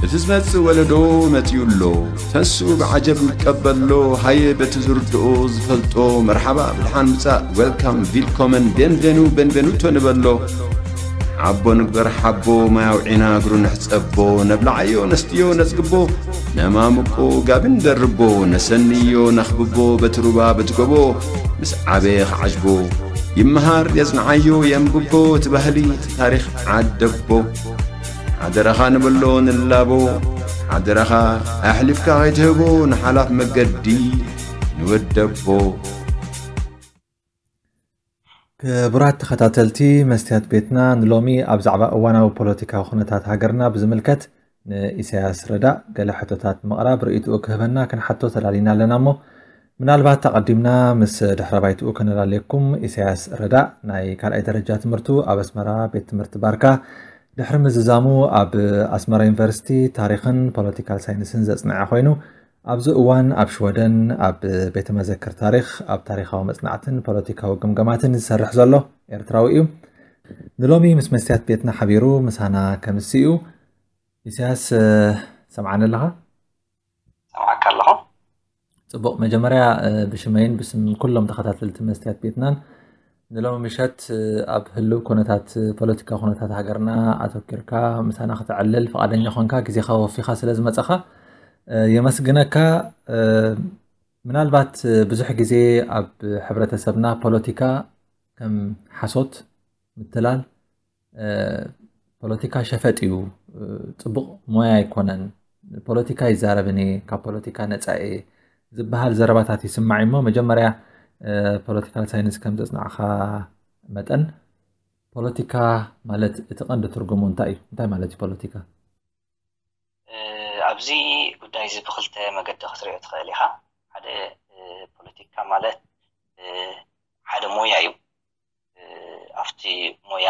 እቲ ዝመጽእ ወለዶ መጺኡ ኣሎ ተስኡ ብዓጀብ ንቀበሎ ሃየ በቲ ዝርድኦ ዝፈልጦ መርሓባ ብድሓን ምጻእ ዌልካም ቪልኮመን ቤንቬኑ ቤንቬኑቶ ንበሎ ዓቦ ንግበር ሓቦ ማያውዒና እግሩ ንሕጸቦ ነብላዓዮ ነስትዮ ነጽግቦ ነማምቆ ጋቢ ንደርቦ ነሰንዮ ነኽብቦ በቲ ሩባ በቲ ጎቦ ምስ ዓበየ ኸዓጅቦ ይመሃር የጽንዓዮ የንብቦ እቲ ባህሊ ታሪኽ ዓደቦ ሓደራኻ ንበሎ ንላቦ ሓደራኻ ኣሕሊፍካ ኸይትህቦ ንሓላፍ መገዲ ንወደቦ ክቡራት ተኸታተልቲ መስትያት ቤትና ንሎሚ ኣብ ዛዕባ እዋናዊ ፖለቲካዊ ኩነታት ሃገርና ብዝምልከት ንኢሳያስ ረዳእ ገለ ሕቶታት ምቕራብ ርእይትኡ ክህበና ክንሓቶ ተላሊና ኣለና እሞ ምናልባት ኣቐዲምና ምስ ድሕረ ባይትኡ ከነላልየኩም ኢሳያስ ረዳእ ናይ ካልኣይ ደረጃ ትምህርቱ ኣብ ኣስመራ ቤት ትምህርቲ ባርካ ድሕሪ ምዝዛሙ ኣብ ኣስመራ ዩኒቨርሲቲ ታሪኽን ፖለቲካል ሳይንስን ዘጽንዐ ኮይኑ ኣብዚ እዋን ኣብ ሽወደን ኣብ ቤተ መዘክር ታሪኽ ኣብ ታሪኻዊ መጽናዕትን ፖለቲካዊ ግምገማትን ዝሰርሕ ዘሎ ኤርትራዊ እዩ ንሎሚ ምስ መስትያት ቤትና ሓቢሩ ምሳና ከምስኡ ኢሳያስ ትሰምዓኒ ኣለኻ? ሰምዓካ ኣለኹ። ጽቡቕ መጀመርያ ብሽመይን ብስም ኩሎም ተኸታተልቲ መስትያት ቤትናን ንሎሚ ምሸት ኣብ ህልው ኩነታት ፖለቲካ ኩነታት ሃገርና ኣተኪርካ ምሳና ክተዕልል ፍቓደኛ ኮንካ ግዜኻ ወፊኻ ስለ ዝመጸኻ የመስግነካ። ምናልባት ብዙሕ ግዜ ኣብ ሕብረተሰብና ፖለቲካ ከም ሓሶት፣ ምትላል፣ ፖለቲካ ሸፈጥ እዩ ፅቡቕ ሞያ ኣይኮነን ፖለቲካ ይዛረብን እየ ካብ ፖለቲካ ነፃ እየ ዝበሃል ዘረባታት ይስማዕ እሞ መጀመርያ ፖለቲካል ሳይንስ ከም ዘፅናዕኻ መጠን ፖለቲካ ማለት እቲ ቀንዲ ትርጉሙ እንታይ እዩ እንታይ ማለት እዩ ፖለቲካ ኣብዚ ጉዳይ እዚ ብክልተ መገዲ ክትሪኦ ትኽእል ኢኻ ሓደ ፖለቲካ ማለት ሓደ ሞያ እዩ ኣብቲ ሞያ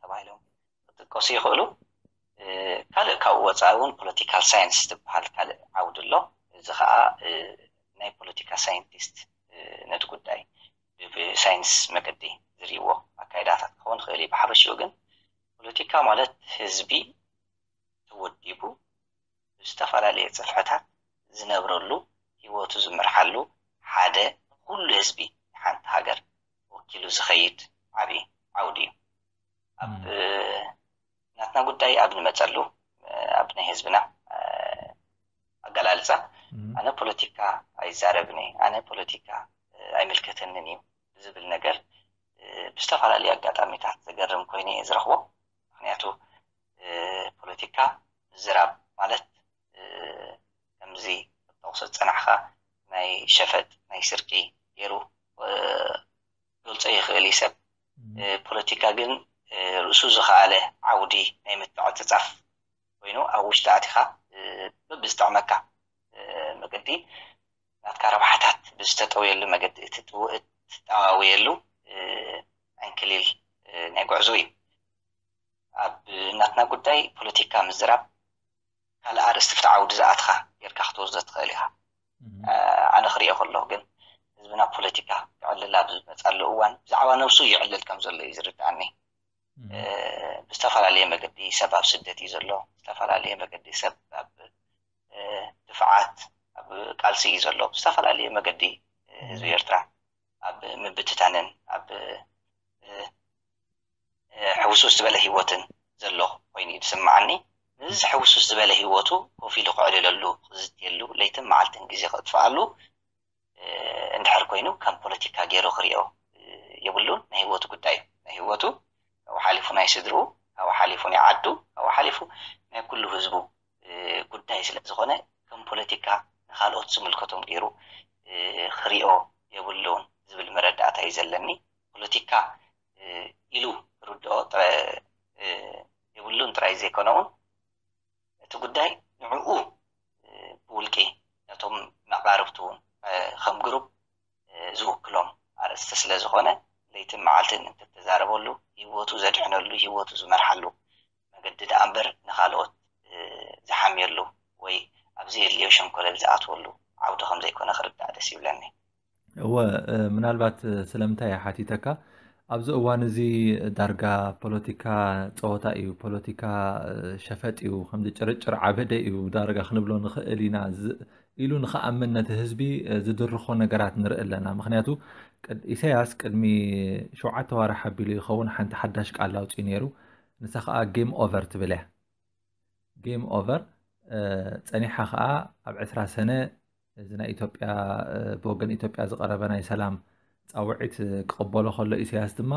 ተባሂሎም ክጥቀሱ ይኽእሉ። ካልእ ካብኡ ወፃኢ እውን ፖለቲካል ሳይንስ ዝበሃል ካልእ ዓውዲ ኣሎ። እዚ ከዓ ናይ ፖለቲካ ሳይንቲስት ነቲ ጉዳይ ብሳይንስ መገዲ ዝርእይዎ ኣካይዳታት ክኸውን ይኽእል እዩ። ብሓፈሽኡ ግን ፖለቲካ ማለት ህዝቢ ተወዲቡ ብዝተፈላለየ ጽፍሕታት ዝነብረሉ ሂወቱ ዝመርሓሉ ሓደ ንኹሉ ህዝቢ ሓንቲ ሃገር ወኪሉ ዝኸይድ ዓቢ ዓውዲ እዩ። ኣብ ናትና ጉዳይ ኣብ ንመጸሉ ኣብ ናይ ህዝብና ኣገላልጻ ኣነ ፖለቲካ ኣይዛረብን እየ ኣነ ፖለቲካ ኣይምልከተንን እዩ ዝብል ነገር ብዝተፈላለዩ ኣጋጣሚታት ዘገርም ኮይኑ እየ ዝረኽቦ። ምክንያቱ ፖለቲካ ምዝራብ ማለት ከምዚ ክትጠቕሶ ዝጸናሕካ ናይ ሸፈጥ ናይ ስርቂ ገይሩ ክገልጾ ይኽእል እዩ ሰብ። ፖለቲካ ግን ርእሱ ዝኸኣለ ዓውዲ ናይ ምትዕጽጻፍ ኮይኑ ኣብ ውሽጢ ኣቲኻ በብዝጥዕመካ መገዲ ናትካ ረብሓታት ብዝተጠውየሉ መገዲ እትጠዋውየሉ ዕንክሊል ናይ ጉዕዞ እዩ። ኣብ ናትና ጉዳይ ፖለቲካ ምዝራብ ካልእ ኣርእስቲ ፍቲ ዓውዲ ዝኣትኻ ጌርካ ክትወስዶ ትኽእል ኢኻ። ኣነ ክርእዮ ከለኹ ግን ህዝብና ፖለቲካ ክዕልል ኣብ ዝመጻሉ እዋን ብዛዕባ ነብሱ ይዕልል ከም ዘሎ እዩ ዝርድኣኒ። ብዝተፈላለየ መገዲ ሰብ ኣብ ስደት እዩ ዘሎ፣ ዝተፈላለየ መገዲ ሰብ ኣብ ድፍዓት ኣብ ቃልሲ እዩ ዘሎ፣ ብዝተፈላለየ መገዲ ህዝቢ ኤርትራ ኣብ ምብትታንን ኣብ ሕውስውስ ዝበለ ህይወትን ዘሎ ኮይኑ እዩ ዝስምዓኒ። ምስዚ ሕውስውስ ዝበለ ህይወቱ ኮፍ ኢሉ ከዕልለሉ፣ ክዝትየሉ፣ ለይትን መዓልትን ግዜ ከጥፍኣሉ እንድሕር ኮይኑ ከም ፖለቲካ ገይሩ ክሪኦ የብሉን። ናይ ህይወቱ ጉዳይ እዩ። ናይ ህይወቱ ካብኡ ሓሊፉ ናይ ስድርኡ፣ ካብኡ ሓሊፉ ናይ ዓዱ፣ ካብኡ ሓሊፉ ናይ ኩሉ ህዝቡ ጉዳይ ስለ ዝኾነ ከም ፖለቲካ ንኻልኦት ዝምልከቶም ገይሩ ክሪኦ የብሉን ዝብል መረዳእታ እዩ ዘለኒ። ፖለቲካ ኢሉ ክርድኦ የብሉን ጥራይ ዘይኮነ እውን እቲ ጉዳይ ንዕኡ ብውልቂ ነቶም መቓርብቱ እውን ከም ግሩፕ ዝውክሎም ኣርእስቲ ስለ ዝኾነ ለይትን መዓልትን እንትተዛረበሉ ህይወቱ ዘድሕነሉ ህይወቱ ዝመርሓሉ መገዲ ደኣ እምበር ንኻልኦት ዝሓምየሉ ወይ ኣብ ዘየድልዮ ሸንኮለል ዝኣትወሉ ዓውዲ ከም ዘይኮነ ክርዳእ ደስ ይብለኒ። እወ ምናልባት ስለምንታይ እየ ሓቲተካ ኣብዚ እዋን እዚ ዳርጋ ፖለቲካ ፀወታ እዩ፣ ፖለቲካ ሸፈጥ እዩ፣ ከምዚ ጭርጭር ዓበደ እዩ ዳርጋ ክንብሎ ንኽእል ኢና ኢሉ ንኽኣምን ነቲ ህዝቢ ዝድርኾ ነገራት ንርኢ ኣለና። ምክንያቱ ኢሳያስ ቅድሚ ሸውዓተ ዋርሕ ኣቢሉ ይኸውን ሓንቲ ሓዳሽ ቃል ኣውፅኡ ነይሩ። ንሳ ከዓ ጌም ኦቨር ትብል እያ። ጌም ኦቨር ፀኒሓ ከዓ ኣብ ዕስራ ሰነ እዚ ናይ ኢትዮጵያ ብወገን ኢትዮጵያ ዝቐረበ ናይ ሰላም ፃውዒት ክቕበሎ ከሎ ኢሳያስ ድማ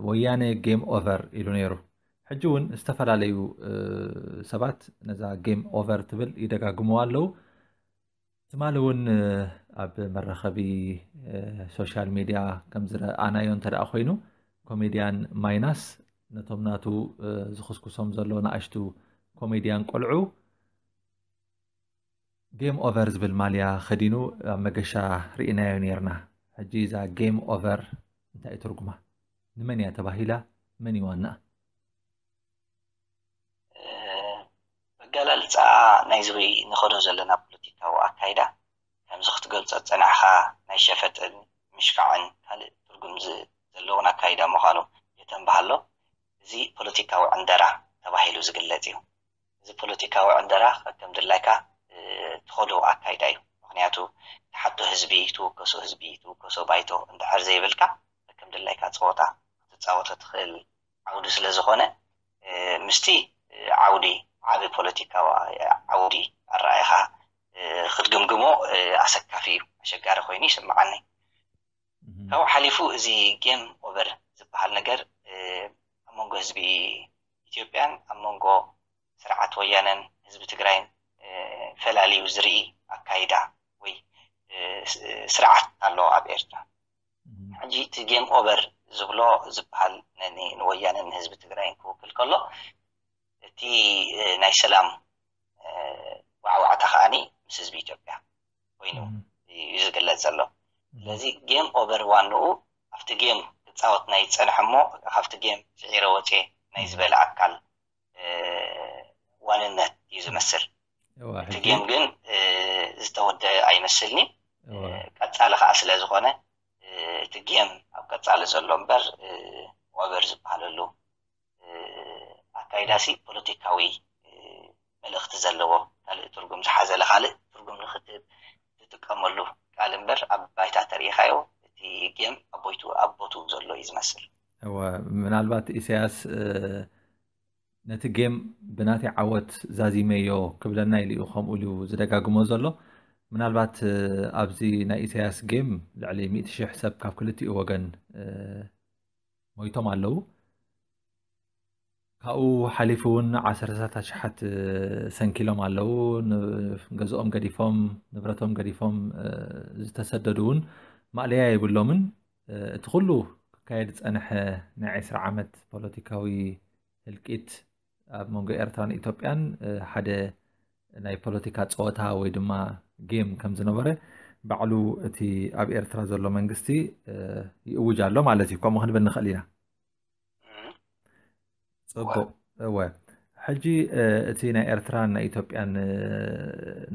ወያነ ጌም ኦቨር ኢሉ ነይሩ። ሕጂ እውን ዝተፈላለዩ ሰባት ነዛ ጌም ኦቨር ትብል ይደጋግምዋ ኣለዉ ትማሊ እውን ኣብ መራኸቢ ሶሻል ሚድያ ከም ዝረኣናዮ እንተ ኮይኑ ኮሜድያን ማይናስ ነቶም ናቱ ዝኽስኩሶም ዘሎ ንኣሽቱ ኮሜድያን ቆልዑ ጌም ኦቨር ዝብል ማልያ ከዲኑ ኣብ መገሻ ርኢናዮ ነርና ሕጂ እዛ ጌም ኦቨር እንታይ ትርጉማ ንመን እያ ተባሂላ መን እዩ ዋናኣ ኣገላልፃኣ ናይዚ ንኸዶ ዘለና ፖለቲካዊ ኣካይዳ ከምዚ ክትገልፆ ዝፀናሕኻ ናይ ሸፈጥን ምሽካዕን ካልእ ትርጉም ዘለዎን ኣካይዳ ምዃኑ የተንብሃሎ እዚ ፖለቲካዊ ዕንደራ ተባሂሉ ዝግለፅ እዩ እዚ ፖለቲካዊ ዕንደራ ከከም ድላይካ ትኸዶ ኣካይዳ እዩ። ምኽንያቱ ትሓቶ ህዝቢ ትውከሶ ህዝቢ ትውከሶ ባይቶ እንድሕር ዘይብልካ ከከም ድላይካ ጸወታ ክትጻወቶ ትኽእል ዓውዲ ስለ ዝኾነ ምስቲ ዓውዲ ዓቢ ፖለቲካዊ ዓውዲ ኣረኣኢኻ ክትግምግሞ ኣሰካፊ እዩ ኣሸጋሪ ኮይኑ ይስምዓኒ። ካብኡ ሓሊፉ እዚ ጌም ኦቨር ዝበሃል ነገር ኣብ መንጎ ህዝቢ ኢትዮጵያን ኣብ መንጎ ስርዓት ወያነን ህዝቢ ትግራይን ፈላልዩ ዝርኢ ኣካይዳ ወይ ስርዓት ኣሎ ኣብ ኤርትራ። ሕጂ እቲ ጌም ኦቨር ዝብሎ ዝበሃል ንወያነን ንህዝቢ ትግራይን ክውክል ከሎ እቲ ናይ ሰላም ዋዕዋዕታ ከኣኒ ምስ ህዝቢ ኢትዮጵያ ኮይኑ እዩ ዝግለፅ ዘሎ ስለዚ ጌም ኦቨር ዋንኡ ኣብቲ ጌም ክፃወት ናይ ዝፀንሐ እሞ ካብቲ ጌም ስዒረ ወፅ ናይ ዝበለ ኣካል ዋንነት እዩ ዝመስል እቲ ጌም ግን ዝተወደ ኣይመስልኒ ቀፃሊ ከዓ ስለ ዝኾነ እቲ ጌም ኣብ ቀፃሊ ዘሎ እምበር ኦቨር ዝበሃለሉ ኣካይዳሲ ፖለቲካዊ መልእኽቲ ዘለዎ ካልእ ትርጉም ዝሓዘለ ካልእ ትርጉም ንኽትህብ ትጥቀመሉ ቃል እምበር ኣብ ባይታ ተሪኢኻዮ እቲ ጌም ኣቦይቱ ኣብ ቦትኡ ዘሎ እዩ ዝመስል። እወ ምናልባት ኢሳያስ ነቲ ጌም ብናተይ ዓወት ዛዚመዮ ክብለና ኢሉ እዩ ከምኡ ኢሉ ዝደጋግሞ ዘሎ። ምናልባት ኣብዚ ናይ ኢሳያስ ጌም ልዕሊ ሚእቲ ሽሕ ሰብ ካብ ክልቲኡ ወገን ሞይቶም ኣለዉ። ካብኡ ሓሊፉ እውን ዓሰርተታት ኣሽሓት ሰንኪሎም ኣለዉ። ገዝኦም ገዲፎም ንብረቶም ገዲፎም ዝተሰደዱ እውን ማእለያ የብሎምን። እቲ ኩሉ ክካየድ ዝፀንሐ ናይ ዕስራ ዓመት ፖለቲካዊ ህልቂት ኣብ መንጎ ኤርትራን ኢትዮጵያን ሓደ ናይ ፖለቲካ ፀወታ ወይ ድማ ጌም ከም ዝነበረ ባዕሉ እቲ ኣብ ኤርትራ ዘሎ መንግስቲ ይእውጅ ኣሎ ማለት እዩ ከምኡ ክንብል ንኽእል ኢና ፅቡቅ እወ ሕጂ እቲ ናይ ኤርትራን ናይ ኢትዮጵያን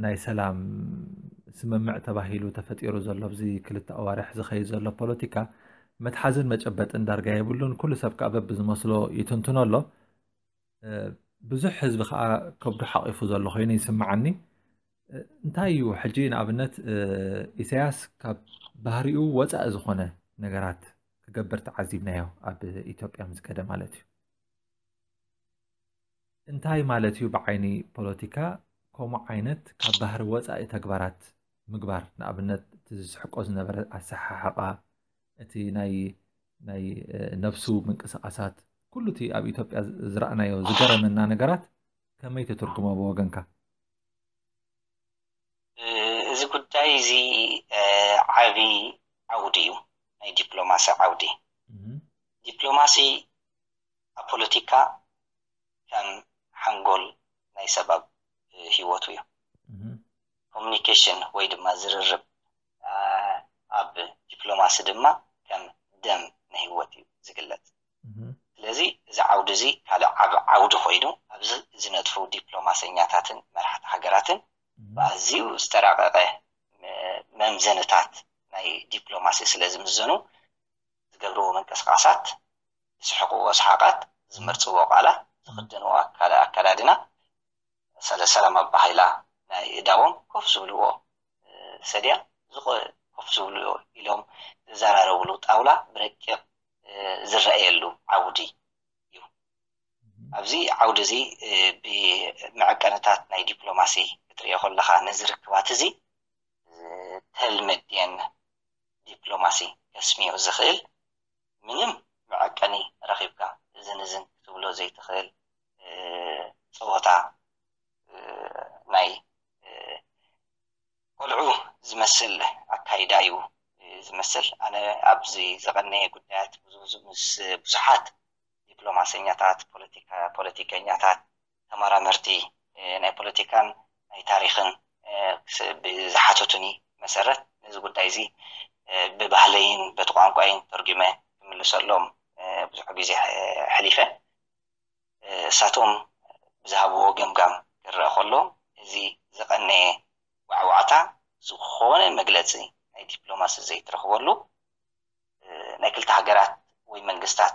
ናይ ሰላም ስምምዕ ተባሂሉ ተፈጢሩ ዘሎ ኣብዚ ክልተ ኣዋርሕ ዝኸይድ ዘሎ ፖለቲካ መትሓዝን መጨበጥን ዳርጋ የብሉን ኩሉ ሰብ ከዓ በብዝመስሎ ይትንትኖ ኣሎ ብዙሕ ህዝቢ ከዓ ከብዱ ሓቂፉ ዘሎ ኮይኑ ይስምዓኒ እንታይ እዩ ሕጂ ንኣብነት ኢሳያስ ካብ ባህሪኡ ወፃኢ ዝኾነ ነገራት ክገብር ተዓዚብናዮ ኣብ ኢትዮጵያ ምስ ከደ ማለት እዩ እንታይ ማለት እዩ ብዓይኒ ፖለቲካ ከምኡ ዓይነት ካብ ባህሪ ወፃኢ ተግባራት ምግባር ንኣብነት እቲ ዝስሕቆ ዝነበረ ኣሰሓሕቃ እቲ ናይ ናይ ነብሱ ምንቅስቃሳት ኩሉ እቲ ኣብ ኢትዮጵያ ዝረኣናዮ ዝገረመና ነገራት ከመይ ትትርጉሞ ብወገንካ? እዚ ጉዳይ እዚ ዓቢ ዓውዲ እዩ ናይ ዲፕሎማሲ ዓውዲ ዲፕሎማሲ ኣብ ፖለቲካ ከም ሓንጎል ናይ ሰብ ኣብ ሂወቱ እዩ ኮሙኒኬሽን ወይ ድማ ዝርርብ ኣብ ዲፕሎማሲ ድማ ከም ደም ንህይወት እዩ ዝግለጽ። ስለዚ እዚ ዓውዲ እዚ ካልእ ዓቢ ዓውዲ ኮይኑ ኣብዚ ዝነጥፉ ዲፕሎማሰኛታትን መራሕቲ ሃገራትን ብኣዝዩ ዝተራቐቐ መምዘንታት ናይ ዲፕሎማሲ ስለ ዝምዘኑ ዝገብርዎ ምንቅስቓሳት፣ ዝስሕቕዎ ሰሓቓት፣ ዝመርጽዎ ቃላት፣ ዝኽደንዎ ኣከዳድና ሰለ ሰላም ኣባ ሃይላ ናይ እዳዎም ኮፍ ዝብልዎ ሰድያ ዝቆ ኮፍ ዝብልዎ ኢሎም ዝዘራረብሉ ጣውላ ብረቂቕ ዝረኣየሉ ዓውዲ ዩ። ኣብዚ ዓውዲ እዚ ብመዐቀንታት ናይ ዲፕሎማሲ ክትርእዮ ከለኻ ነዚ ርክባት እዚ ዝተልመዴን ዲፕሎማሲ ከስምዮ ዝኽእል ምንም መዐቀኒ ረኺብካ እዝን እዝን ክትብሎ ዘይትኽእል ፀወታ ናይ ቆልዑ ዝመስል ኣካይዳ እዩ ዝመስል። ኣነ ኣብዚ ዘቐነየ ጉዳያት ምስ ብዙሓት ዲፕሎማሰኛታት፣ ፖለቲከኛታት፣ ተመራመርቲ ናይ ፖለቲካን ናይ ታሪኽን ብዝሓተቱኒ መሰረት ነዚ ጉዳይ እዚ ብባህለይን በቲ ቋንቋይን ተርጒመ ክምልሰሎም ብዙሕ ግዜ ኣሕሊፈ። እሳቶም ብዝሃብዎ ገምጋም ክረኣ ከሎ እዚ ዝቐነየ ዋዕዋዕታ ዝኾነ መግለጺ ናይ ዲፕሎማሲ ዘይትረኽበሉ ናይ ክልተ ሃገራት ወይ መንግስታት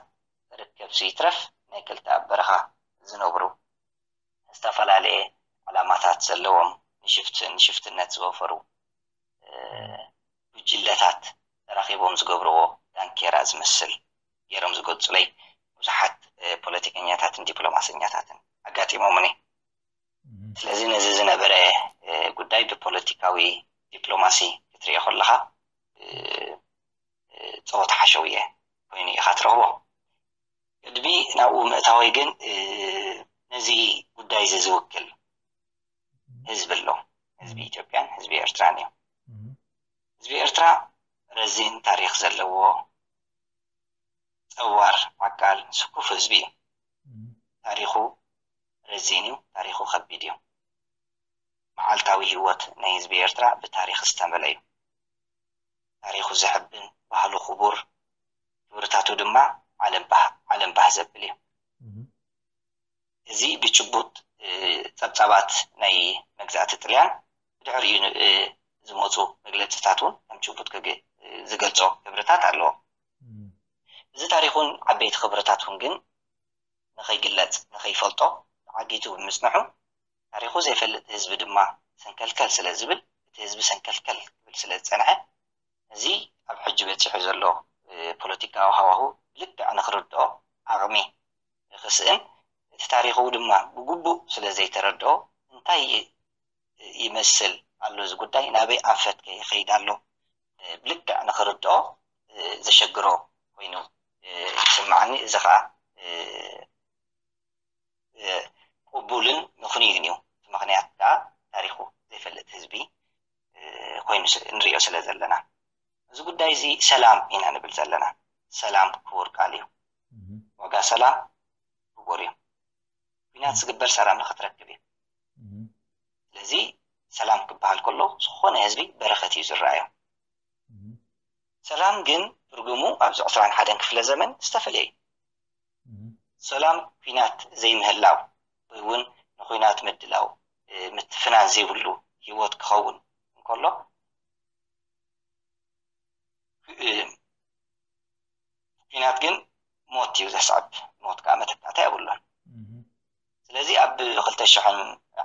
ርክብሲ ይትረፍ ናይ ክልተ ኣብ በረኻ ዝነብሩ ዝተፈላለየ ዕላማታት ዘለዎም ንሽፍትነት ዝወፈሩ ጉጅለታት ተራኺቦም ዝገብርዎ ዳንኬራ ዝመስል ገይሮም ዝገልጹለይ ብዙሓት ፖለቲከኛታትን ዲፕሎማሰኛታትን ኣጋጢሞምኒ። ስለዚ ነዚ ዝነበረ ጉዳይ ብፖለቲካዊ ዲፕሎማሲ ክትሪኦ ከለኻ ጸወታ ሓሸውየ ኮይኑ ኢኻ ትረኽቦ። ቅድሚ ናብኡ ምእታወይ ግን ነዚ ጉዳይ እዚ ዝውክል ህዝቢ ኣሎ። ህዝቢ ኢትዮጵያን ህዝቢ ኤርትራን እዩ። ህዝቢ ኤርትራ ረዚን ታሪክ ዘለዎ ጸዋር ዓቃል ስኩፍ ህዝቢ እዩ ታሪኩ ረዚን እዩ ታሪኩ ከቢድ እዩ መዓልታዊ ሂወት ናይ ህዝቢ ኤርትራ ብታሪክ ዝተመለ እዩ ታሪኩ ዘሕብን ባህሉ ኩቡር ክብርታቱ ድማ ዓለም ባህ ዓለም ባህ ዘብል እዩ እዚ ብጭቡጥ ጸብጻባት ናይ መግዛእቲ ጥልያን ብድሕሪኡ ዝመፁ መግለፅታት እውን ከም ጭቡጥ ክግ ዝገልፆ ክብርታት ኣለዎ። እዚ ታሪኹን ዓበይቲ ክብርታቱን ግን ንኸይግለፅ ንኸይፈልጦ ተዓጊቱ ብምፅንሑ ታሪኹ ዘይፈልጥ ህዝቢ ድማ ሰንከልከል ስለ ዝብል እቲ ህዝቢ ሰንከልከል ክብል ስለ ዝፀንሐ ነዚ ኣብ ሕጂ በፂሑ ዘሎ ፖለቲካዊ ሃዋሁ ብልክዕ ንክርድኦ ዓቕሚ ክስእን እቲ ታሪኹ ድማ ብግቡእ ስለ ዘይተረድኦ እንታይ ይመስል ኣሎ እዚ ጉዳይ ናበይ ኣንፈት ከ ይኸይድ ኣሎ ብልክዕ ንኽርድኦ ዘሸግሮ ኮይኑ ይስምዓኒ እዚ ኸኣ ቅቡልን ምኽንዩን እዩ እቲ ምኽንያት ከኣ ታሪኹ ዘይፈልጥ ህዝቢ ኮይኑ ንሪኦ ስለ ዘለና እዚ ጉዳይ እዚ ሰላም ኢና ንብል ዘለና ሰላም ክቡር ቃል እዩ ዋጋ ሰላም ክቡር እዩ ኩናት ዝግበር ሰላም ንኽትረክብ እዩ ስለዚ ሰላም ክበሃል ከሎ ዝኾነ ህዝቢ በረኸት እዩ ዝረኣዮ። ሰላም ግን ትርጉሙ ኣብዚ ዕስራን ሓደን ክፍለ ዘመን ዝተፈለየ እዩ። ሰላም ኩናት ዘይምህላው ወይ እውን ንኩናት ምድላው ምትፍናን ዘይብሉ ህይወት ክኸውን እንከሎ ኩናት ግን ሞት እዩ ዘስዕብ፣ ሞት ከዓ መተካእታ የብሉን። ስለዚ ኣብ ክልተ ሽሕን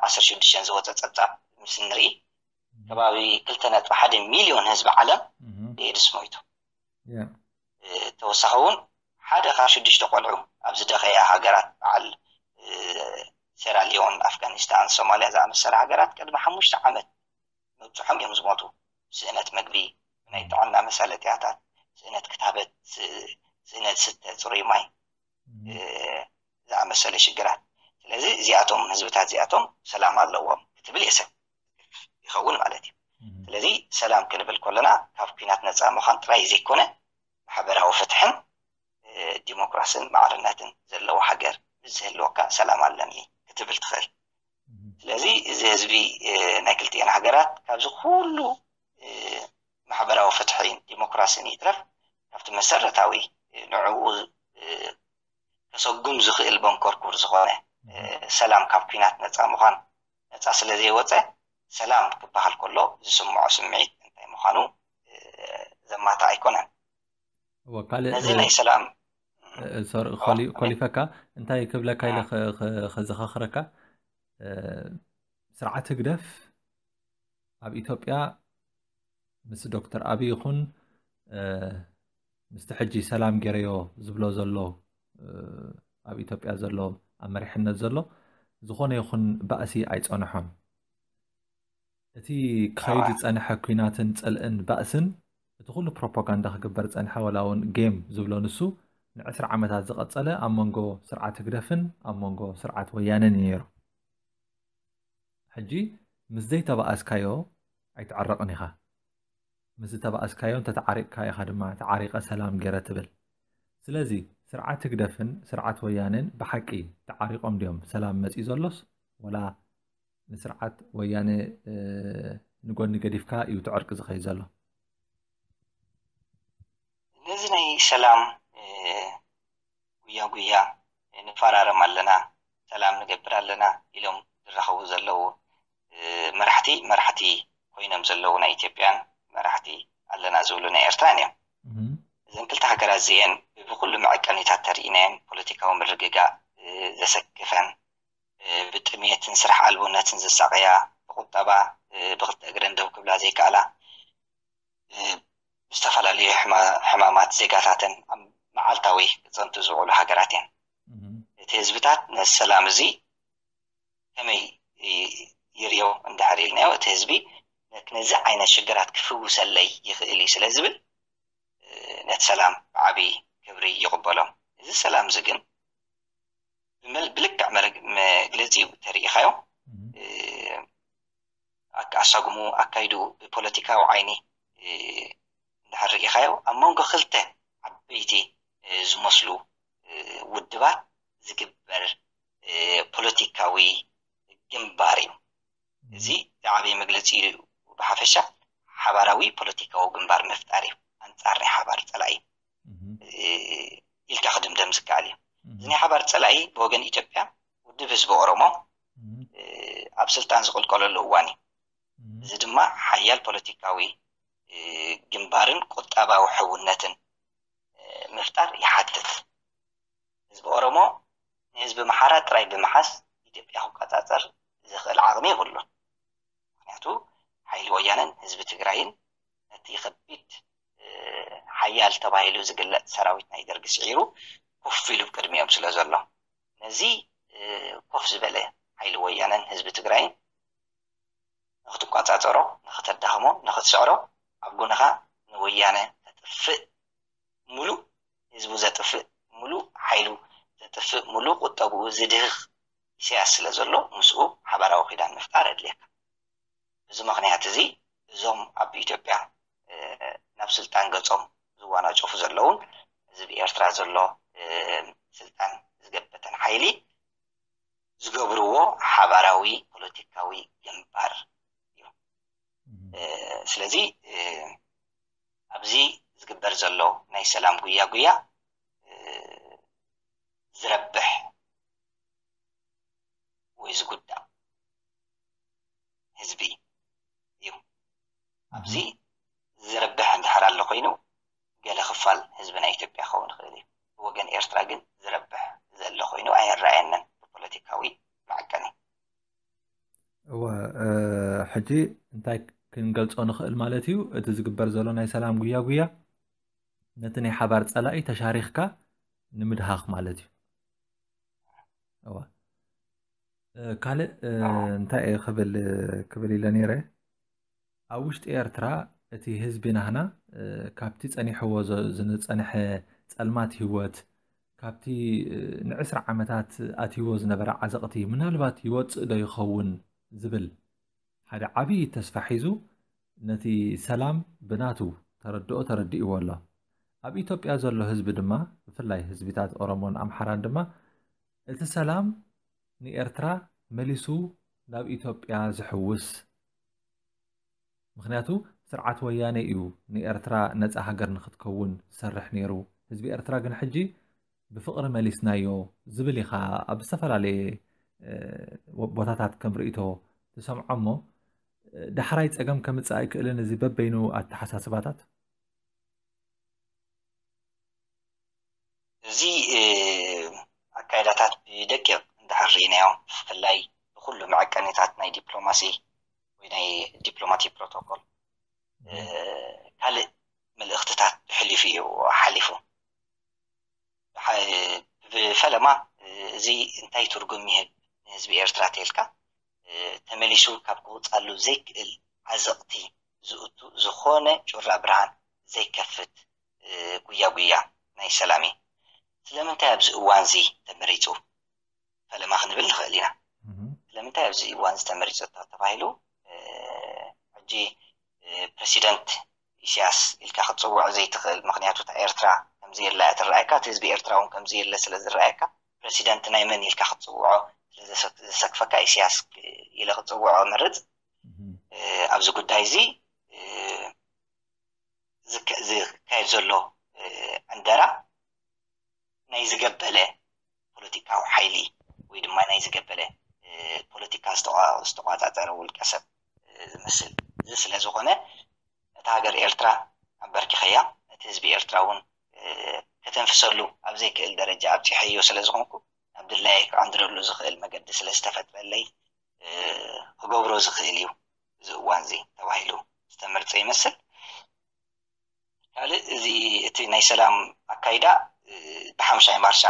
ዓሰርተ ሽዱሽተን ዝወፀ ፀብፃብ ምስ እንርኢ ከባቢ ክልተ ነጥቢ ሓደ ሚልዮን ህዝቢ ዓለም ብኤድስ ሞይቱ ተወሳኺ እውን ሓደ ካብ ሽዱሽተ ቆልዑ ኣብ ዝደኸያ ሃገራት በዓል ሴራሊዮን ኣፍጋኒስታን ሶማልያ ዝኣመሰለ ሃገራት ቅድሚ ሓሙሽተ ዓመት ምብፅሖም እዮም ዝሞቱ ስእነት መግቢ ናይ ጥዕና መሳለጥያታት ስእነት ክታበት ስእነት ስተ ፅሩይ ማይ ዝኣመሰለ ሽግራት ስለዚ እዚኣቶም ህዝብታት እዚኣቶም ሰላም ኣለዎም ክትብል የሰብ ይኸውን ማለት እዩ ስለዚ ሰላም ክንብል ከለና ካብ ኩናት ነፃ ምዃን ጥራይ ዘይኮነ ማሕበራዊ ፍትሕን ዲሞክራስን ማዕርነትን ዘለዎ ሃገር ምስ ዝህልወካ ሰላም ኣለኒ ክትብል ትኽእል ስለዚ እዚ ህዝቢ ናይ ክልቲኤን ሃገራት ካብዚ ኩሉ ማሕበራዊ ፍትሒን ዲሞክራሲን ይትረፍ ካብቲ መሰረታዊ ንዕኡ ከሰጉም ዝኽእል መንኮርኩር ዝኾነ ሰላም ካብ ኩናት ነፃ ምዃን ነፃ ስለ ዘይወፀ ሰላም ክበሃል ከሎ ዝስምዖ ስምዒት እንታይ ምዃኑ ዘማታ ኣይኮነን ነዚ ናይ ሰላም ኮሊፈካ እንታይ ክብለካ ኢለ ከዘኻኽረካ ስርዓት ህግደፍ ኣብ ኢትዮጵያ ምስ ዶክተር ኣብይ ይኹን ምስቲ ሕጂ ሰላም ገይረዮ ዝብሎ ዘሎ ኣብ ኢትዮጵያ ዘሎ ኣብ መሪሕነት ዘሎ ዝኾነ ይኹን ባእሲ ኣይጸንሖን እቲ ክኸይድ ዝጸንሐ ኩናትን ጽልእን ባእስን እቲ ኩሉ ፕሮፓጋንዳ ክግበር ጸንሐ ወላ እውን ጌም ዝብሎ ንሱ ንዕስራ ዓመታት ዝቐጸለ ኣብ መንጎ ስርዓት ህግደፍን ኣብ መንጎ ስርዓት ወያነን እዩ ነይሩ ሕጂ ምስ ዘይተባኣስካዮ ኣይትዕረቕን ኢኻ። ምስ ዝተባኣስካዮ እንተተዓሪቕካ ኢኻ ድማ ተዓሪቐ ሰላም ገይረ ትብል። ስለዚ ስርዓት ህግደፍን ስርዓት ወያኔን ብሓቂ ተዓሪቖም ድዮም ሰላም መጺኡ ዘሎስ ወላ ንስርዓት ወያኔ ንጎኒ ገዲፍካ እዩ እቲ ዕርቂ ዝኸይድ ዘሎ? ነዚ ናይ ሰላም ጉያ ጉያ ንፋራረም ኣለና ሰላም ንገብር ኣለና ኢሎም ዝራኸቡ ዘለዉ መራሕቲ መራሕቲ ኮይኖም ዘለዉ ናይ ኢትዮጵያን መራሕቲ ኣለና ዝብሉ ናይ ኤርትራን እዮም። እዘን ክልተ ሃገራት እዚኤን ብብኩሉ መዐቀኒታት ተሪኢናየን ፖለቲካዊ ምርግጋእ ዘሰክፈን ብጥሜትን ስራሕ ኣልቦነትን ዝሳቀያ ብቁጠባ ብክልተ እግረን ደው ክብላ ዘይከኣላ ዝተፈላለዩ ሕማማት ዜጋታተን ኣብ መዓልታዊ ክፀንቱ ዝውዕሉ ሃገራት እየን እቲ ህዝብታት ነዚ ሰላም እዚ ከመይ ይሪኦ እንድሕር ኢልናዮ እቲ ህዝቢ ነዚ ዓይነት ሽግራት ክፍውሰለይ ይኽእል እዩ ስለ ዝብል ነቲ ሰላም ብዓብዪ ክብሪ ይቕበሎም እዚ ሰላም እዚ ግን ብልክዕ መግለፂ ተሪኢኻዮ ኣሳጉሙ ኣካይዱ ብፖለቲካዊ ዓይኒ እንድሕር ርኢኻዮ ኣብ መንጎ ክልተ ዓበይቲ ዝመስሉ ውድባት ዝግበር ፖለቲካዊ ግንባር እዩ። እዚ ዝዓበየ መግለፂ እዩ። ብሓፈሻ ሓባራዊ ፖለቲካዊ ግንባር ምፍጣር እዩ። ኣንፃር ናይ ሓባር ፀላኢ ኢልካ ክድምደም ዝከኣል እዩ። እዚ ናይ ሓባር ፀላኢ ብወገን ኢትዮጵያ ውድብ ህዝቢ ኦሮሞ ኣብ ስልጣን ዝቕልቀለሉ እዋን እዩ። እዚ ድማ ሓያል ፖለቲካዊ ግንባርን ቁጠባዊ ሕውነትን ምፍጣር ይሓትት። ህዝቢ ኦሮሞ ንህዝቢ ኣምሓራ ጥራይ ብምሓዝ ኢትዮጵያ ክቆጻጸር ዝኽእል ዓቕሚ የብሉን። ምኽንያቱ ሓይሊ ወያነን ህዝቢ ትግራይን ነቲ ከቢድ ሓያል ተባሂሉ ዝግለጽ ሰራዊት ናይ ደርጊ ስዒሩ ኮፍ ኢሉ ቅድሚኦም ስለዘሎ። ነዚ ኮፍ ዝበለ ሓይሊ ወያነን ህዝቢ ትግራይን ንኽትቆጻጸሮ፣ ንኽተዳኽሞ፣ ንኽትስዕሮ ኣብ ጎንኻ ንወያነ ከጥፍእ ሙሉእ ህዝቡ ዘጥፍእ ሙሉእ ሓይሉ ዘጥፍእ ሙሉእ ቁጠብኡ ዝድህኽ ኢሰያስ ስለ ዘሎ ምስኡ ሓባራዊ ኪዳን ምፍጣር ኣድልየካ ብዚ ምኽንያት እዚ እዞም ኣብ ኢትዮጵያ ናብ ስልጣን ገጾም ዝዋናጨፉ ዘለዉን እዚ ብ ኤርትራ ዘሎ ስልጣን ዝገበተን ሓይሊ ዝገብርዎ ሓባራዊ ፖለቲካዊ ግንባር እዩ ስለዚ ኣብዚ ዝግበር ዘሎ ናይ ሰላም ጉያጉያ ዝረብሕ ወይ ዝጉዳእ ህዝቢ እዩ። ኣብዚ ዝርብሕ እንድሕር ኣሎ ኮይኑ ገለ ክፋል ህዝቢ ናይ ኢትዮጵያ ክኸውን ይኽእል እዩ። ብወገን ኤርትራ ግን ዝረብሕ ዘሎ ኮይኑ ኣይረኣየንን ብፖለቲካዊ መዐቀኒ። እወ ሕጂ እንታይ ክንገልጾ ንኽእል ማለት እዩ እቲ ዝግበር ዘሎ ናይ ሰላም ጉያ ጉያ ነቲ ናይ ሓባር ጸላኢ ተሻሪኽካ ንምድሃኽ ማለት እዩ እወ ካልእ እንታይ እየ ክብል ክብል ኢለ ነይረ ኣብ ውሽጢ ኤርትራ እቲ ህዝቢ ናህና ካብቲ ጸኒሕዎ ዝጸንሐ ጸልማት ህይወት ካብቲ ንዕስራ ዓመታት ኣትይዎ ዝነበረ ዓዘቕቲ ምናልባት ይወጽእ ዶ ይኸውን ዝብል ሓደ ዓብዪ ተስፋ ሒዙ ነቲ ሰላም ብናቱ ተረድኦ ተረዲእዎ ኣሎ። ኣብ ኢትዮጵያ ዘሎ ህዝቢ ድማ ብፍላይ ህዝቢታት ኦሮሞን ኣምሓራን ድማ እቲ ሰላም ንኤርትራ መሊሱ ናብ ኢትዮጵያ ዝሕውስ ምኽንያቱ ስርዓት ወያነ እዩ ንኤርትራ ነጻ ሃገር ንኽትከውን ዝሰርሕ ነይሩ፣ ህዝቢ ኤርትራ ግን ሕጂ ብፍቕሪ መሊስናዮ ዝብል ኢኻ ኣብ ዝተፈላለየ ቦታታት ከም ርእይቶ ትሰምዖ እሞ ዳሕራይ ጸገም ከምጽእ ኣይክእልን እዚ በበይኑ ኣተሓሳስባታት? እዚ ኣካይዳታት ብደቂቕ እንድሕር ርኢናዮ ብፍላይ ንኹሉ መዐቀኒታት ናይ ዲፕሎማሲ ወይ ናይ ዲፕሎማቲክ ፕሮቶኮል ካልእ መልእኽትታት ብሕሊፉ እዩ ሓሊፉ። ብፈለማ እዚ እንታይ ትርጉም ይህብ ንህዝቢ ኤርትራ ተልካ ተመሊሱ ካብ ክወጻሉ ዘይክእል ዓዘቕቲ ዝእቱ ዝኾነ ጩራ ብርሃን ዘይከፍት ጉያ ጉያ ናይ ሰላም እዩ። ስለምንታይ ኣብዚ እዋንዚ ተመሪጹ ፈለማ ክንብል ንኽእል ኢና። ስለምንታይ ኣብዚ እዋንዚ ተመሪጹ ተባሂሉ ሕጂ ፕረሲደንት ኢሳያስ ኢልካ ክትጽውዖ ዘይትኽእል ምኽንያቱ እታ ኤርትራ ከምዘየላ እያ ትረኣየካ እቲ ህዝቢ ኤርትራ እውን ከምዘየለ ስለ ዝረኣየካ ፕረሲደንት ናይ መን ኢልካ ክትጽውዖ ስለዘሰክፈካ ኢሳያስ ኢለ ክጽውዖ መርጽ ኣብዚ ጉዳይ እዚ ዝካየድ ዘሎ ዕንደራ ናይ ዝገበለ ፖለቲካዊ ሓይሊ ወይ ድማ ናይ ዝገበለ ፖለቲካ ዝተቋፃፀረ ውልቀ ሰብ ዝመስል እዚ ስለ ዝኾነ ነታ ሃገር ኤርትራ ኣበርኪኸያ ነቲ ህዝቢ ኤርትራ እውን ከተንፍሰሉ ኣብ ዘይክእል ደረጃ ኣብፂሐዮ ስለ ዝኾንኩ ናብ ድላየይ ክዕንድረሉ ዝኽእል መገዲ ስለ ዝተፈጥረለይ ክገብሮ ዝኽእል እዩ እዚ እዋንዚ ተባሂሉ ዝተመርጸ ይመስል። ካልእ እዚ እቲ ናይ ሰላም ኣካይዳ ብሓሙሻይ ማርሻ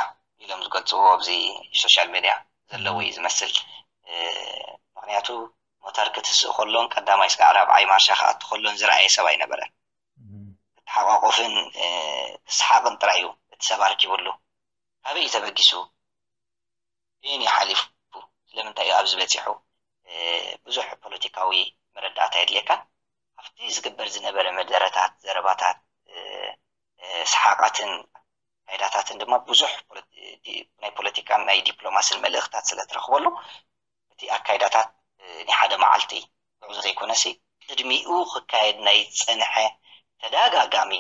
ኢሎም ዝገልጽዎ ኣብዚ ሶሻል ሜድያ ዘለዎ እዩ ዝመስል። ምክንያቱ ሞተር ክትስእ ከሎን ቀዳማይ እስካዕ ራብዓይ ማርሻ ክኣቱ ከሎን ዝረኣየ ሰብ ኣይነበረን። ክተሓቋቆፍን ክሰሓቅን ጥራይ እዩ እቲ ሰብ ኣርኪብሉ። ካበይ እዩ ተበጊሱ? በየን እዩ ሓሊፉ ስለምንታይ እዩ ኣብዚ በጺሑ ብዙሕ ፖለቲካዊ መረዳእታ የድልየካ ኣብቲ ዝግበር ዝነበረ መደረታት ዘረባታት ሰሓቓትን ኣካይዳታትን ድማ ብዙሕ ናይ ፖለቲካን ናይ ዲፕሎማስን መልእኽታት ስለ ትረኽበሉ እቲ ኣካይዳታት ናይ ሓደ መዓልቲ ጉዕዞ ዘይኮነሲ ቅድሚኡ ክካየድ ናይ ዝጸንሐ ተዳጋጋሚ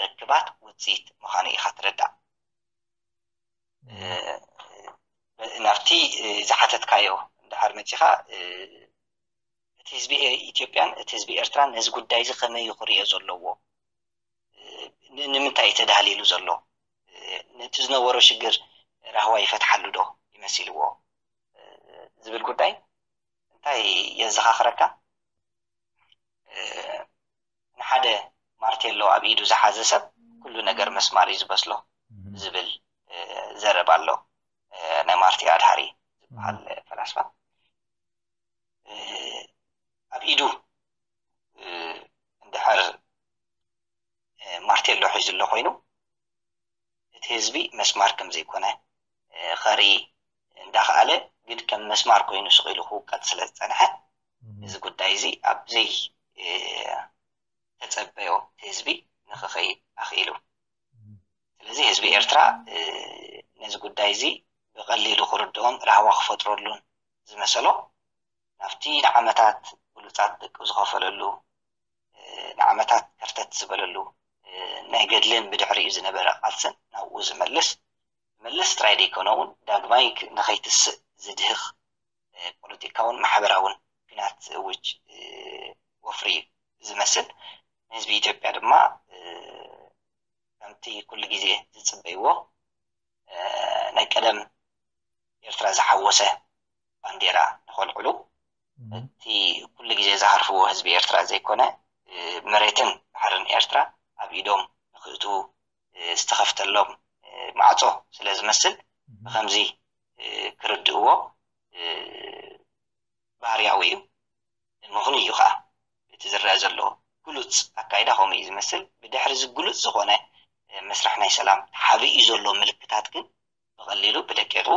ርክባት ውጽኢት ምዃኑ ኢኻ ትርዳእ። ናብቲ ዝሓተትካዮ ድሓር መጺኻ እቲ ህዝቢ ኢትዮጵያን እቲ ህዝቢ ኤርትራን ነዚ ጉዳይ እዚ ከመይ እዩ ክርእዮ ዘለዎ ንምንታይ እዩ ተዳህሊሉ ዘሎ ነቲ ዝነበሮ ሽግር ራህዋ ይፈትሓሉ ዶ ይመሲልዎ ዝብል ጉዳይ እንታይ የዘኻኽረካ ንሓደ ማርቴሎ ኣብ ኢዱ ዝሓዘ ሰብ ኩሉ ነገር መስማር እዩ ዝበስሎ ዝብል ዘረባ ኣሎ ናይ ማርቲ ኣድሃሪ ዝበሃል ፈላስፋ ኣብ ኢዱ እንድሕር ማርቴሎ ሒዙ ኣሎ ኮይኑ እቲ ህዝቢ መስማር ከም ዘይኮነ ከርኢ እንዳኸኣለ ግን ከም መስማር ኮይኑ ስቂሉ ክውቀጥ ስለ ዝፀንሐ እዚ ጉዳይ እዚ ኣብ ዘይተጸበዮ ህዝቢ ንኽኸይድ ኣኽኢሉ። ስለዚ ህዝቢ ኤርትራ ነዚ ጉዳይ እዚ ብቐሊሉ ክርድኦን ራህዋ ክፈጥረሉን ዝመሰሎ ናብቲ ንዓመታት ብሉጻት ደቁ ዝኸፈለሉ፣ ንዓመታት ከርተት ዝበለሉ ናይ ገድልን ብድሕሪኡ ዝነበረ ቃልስን ናብኡ ዝመልስ፣ መለስ ጥራይ ዘይኮነ እውን ዳግማይ ንኸይትስእ ዝድህኽ ፖለቲካውን ማሕበራውን ኲናት ዝእውጅ ወፍሪ እዩ ዝመስል። ንህዝቢ ኢትዮጵያ ድማ ከምቲ ኩሉ ግዜ ዝጽበይዎ ናይ ቀደም ኤርትራ ዝሓወሰ ባንዴራ ንኸልዕሉ እቲ ኩሉ ግዜ ዝሃርፍዎ ህዝቢ ኤርትራ ዘይኮነ መሬትን ባሕርን ኤርትራ ኣብ ኢዶም ንክእትዉ ዝተኸፍተሎም ማዕጾ ስለ ዝመስል ብኸምዚ ክርድእዎ ባህርያዊ እዩ ምኽኑ እዩ ከዓ እቲ ዝረአ ዘሎ ግሉፅ ኣካይዳ ከምኡ እዩ ዝመስል ብድሕሪ እዚ ግሉፅ ዝኾነ መስርሕ ናይ ሰላም ተሓቢኡ ዘሎ ምልክታት ግን ብቐሊሉ ብደቂቑ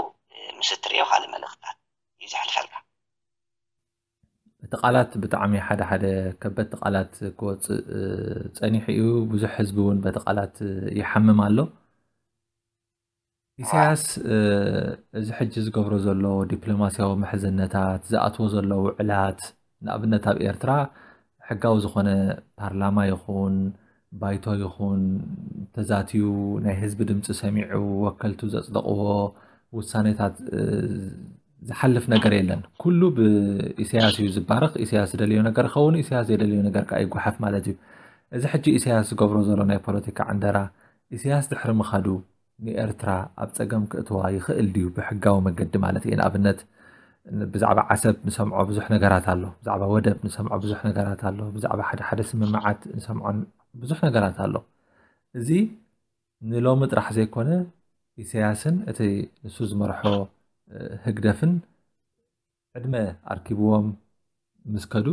ምስ እትርእዮ ካልእ መልእኽትታት እዩ ዘሕልፈልካ እቲ ቃላት ብጣዕሚ ሓደ ሓደ ከበድቲ ቃላት ክወፅእ ፀኒሑ እዩ። ብዙሕ ህዝቢ እውን በቲ ቃላት ይሓምም ኣሎ። ኢሳያስ እዚ ሕጂ ዝገብሮ ዘሎ ዲፕሎማስያዊ ምሕዝነታት ዝኣትዎ ዘሎ ውዕላት ንኣብነት ኣብ ኤርትራ ሕጋዊ ዝኾነ ፓርላማ ይኹን ባይቶ ይኹን ተዛትዩ ናይ ህዝቢ ድምፂ ሰሚዑ ወከልቱ ዘፅደቕዎ ውሳኔታት ዝሓልፍ ነገር የለን ኩሉ ብኢሳያስ እዩ ዝባረኽ ኢሳያስ ዝደልዮ ነገር ኸውን ኢሳያስ ዘይደልዮ ነገር ከዓ ይጓሓፍ ማለት እዩ እዚ ሕጂ ኢሳያስ ዝገብሮ ዘሎ ናይ ፖለቲካ ዕንደራ ኢሳያስ ድሕሪ ምኻዱ ንኤርትራ ኣብ ጸገም ክእትዋ ይኽእል ድዩ ብሕጋዊ መገዲ ማለት እየ ንኣብነት ብዛዕባ ዓሰብ ንሰምዖ ብዙሕ ነገራት ኣሎ ብዛዕባ ወደብ ንሰምዖ ብዙሕ ነገራት ኣሎ ብዛዕባ ሓደ ሓደ ስምምዓት ንሰምዖ ብዙሕ ነገራት ኣሎ እዚ ንሎሚ ጥራሕ ዘይኮነ ኢሰያስን እቲ ንሱ ዝመርሖ ህግደፍን ዕድመ ኣርኪብዎም ምስ ከዱ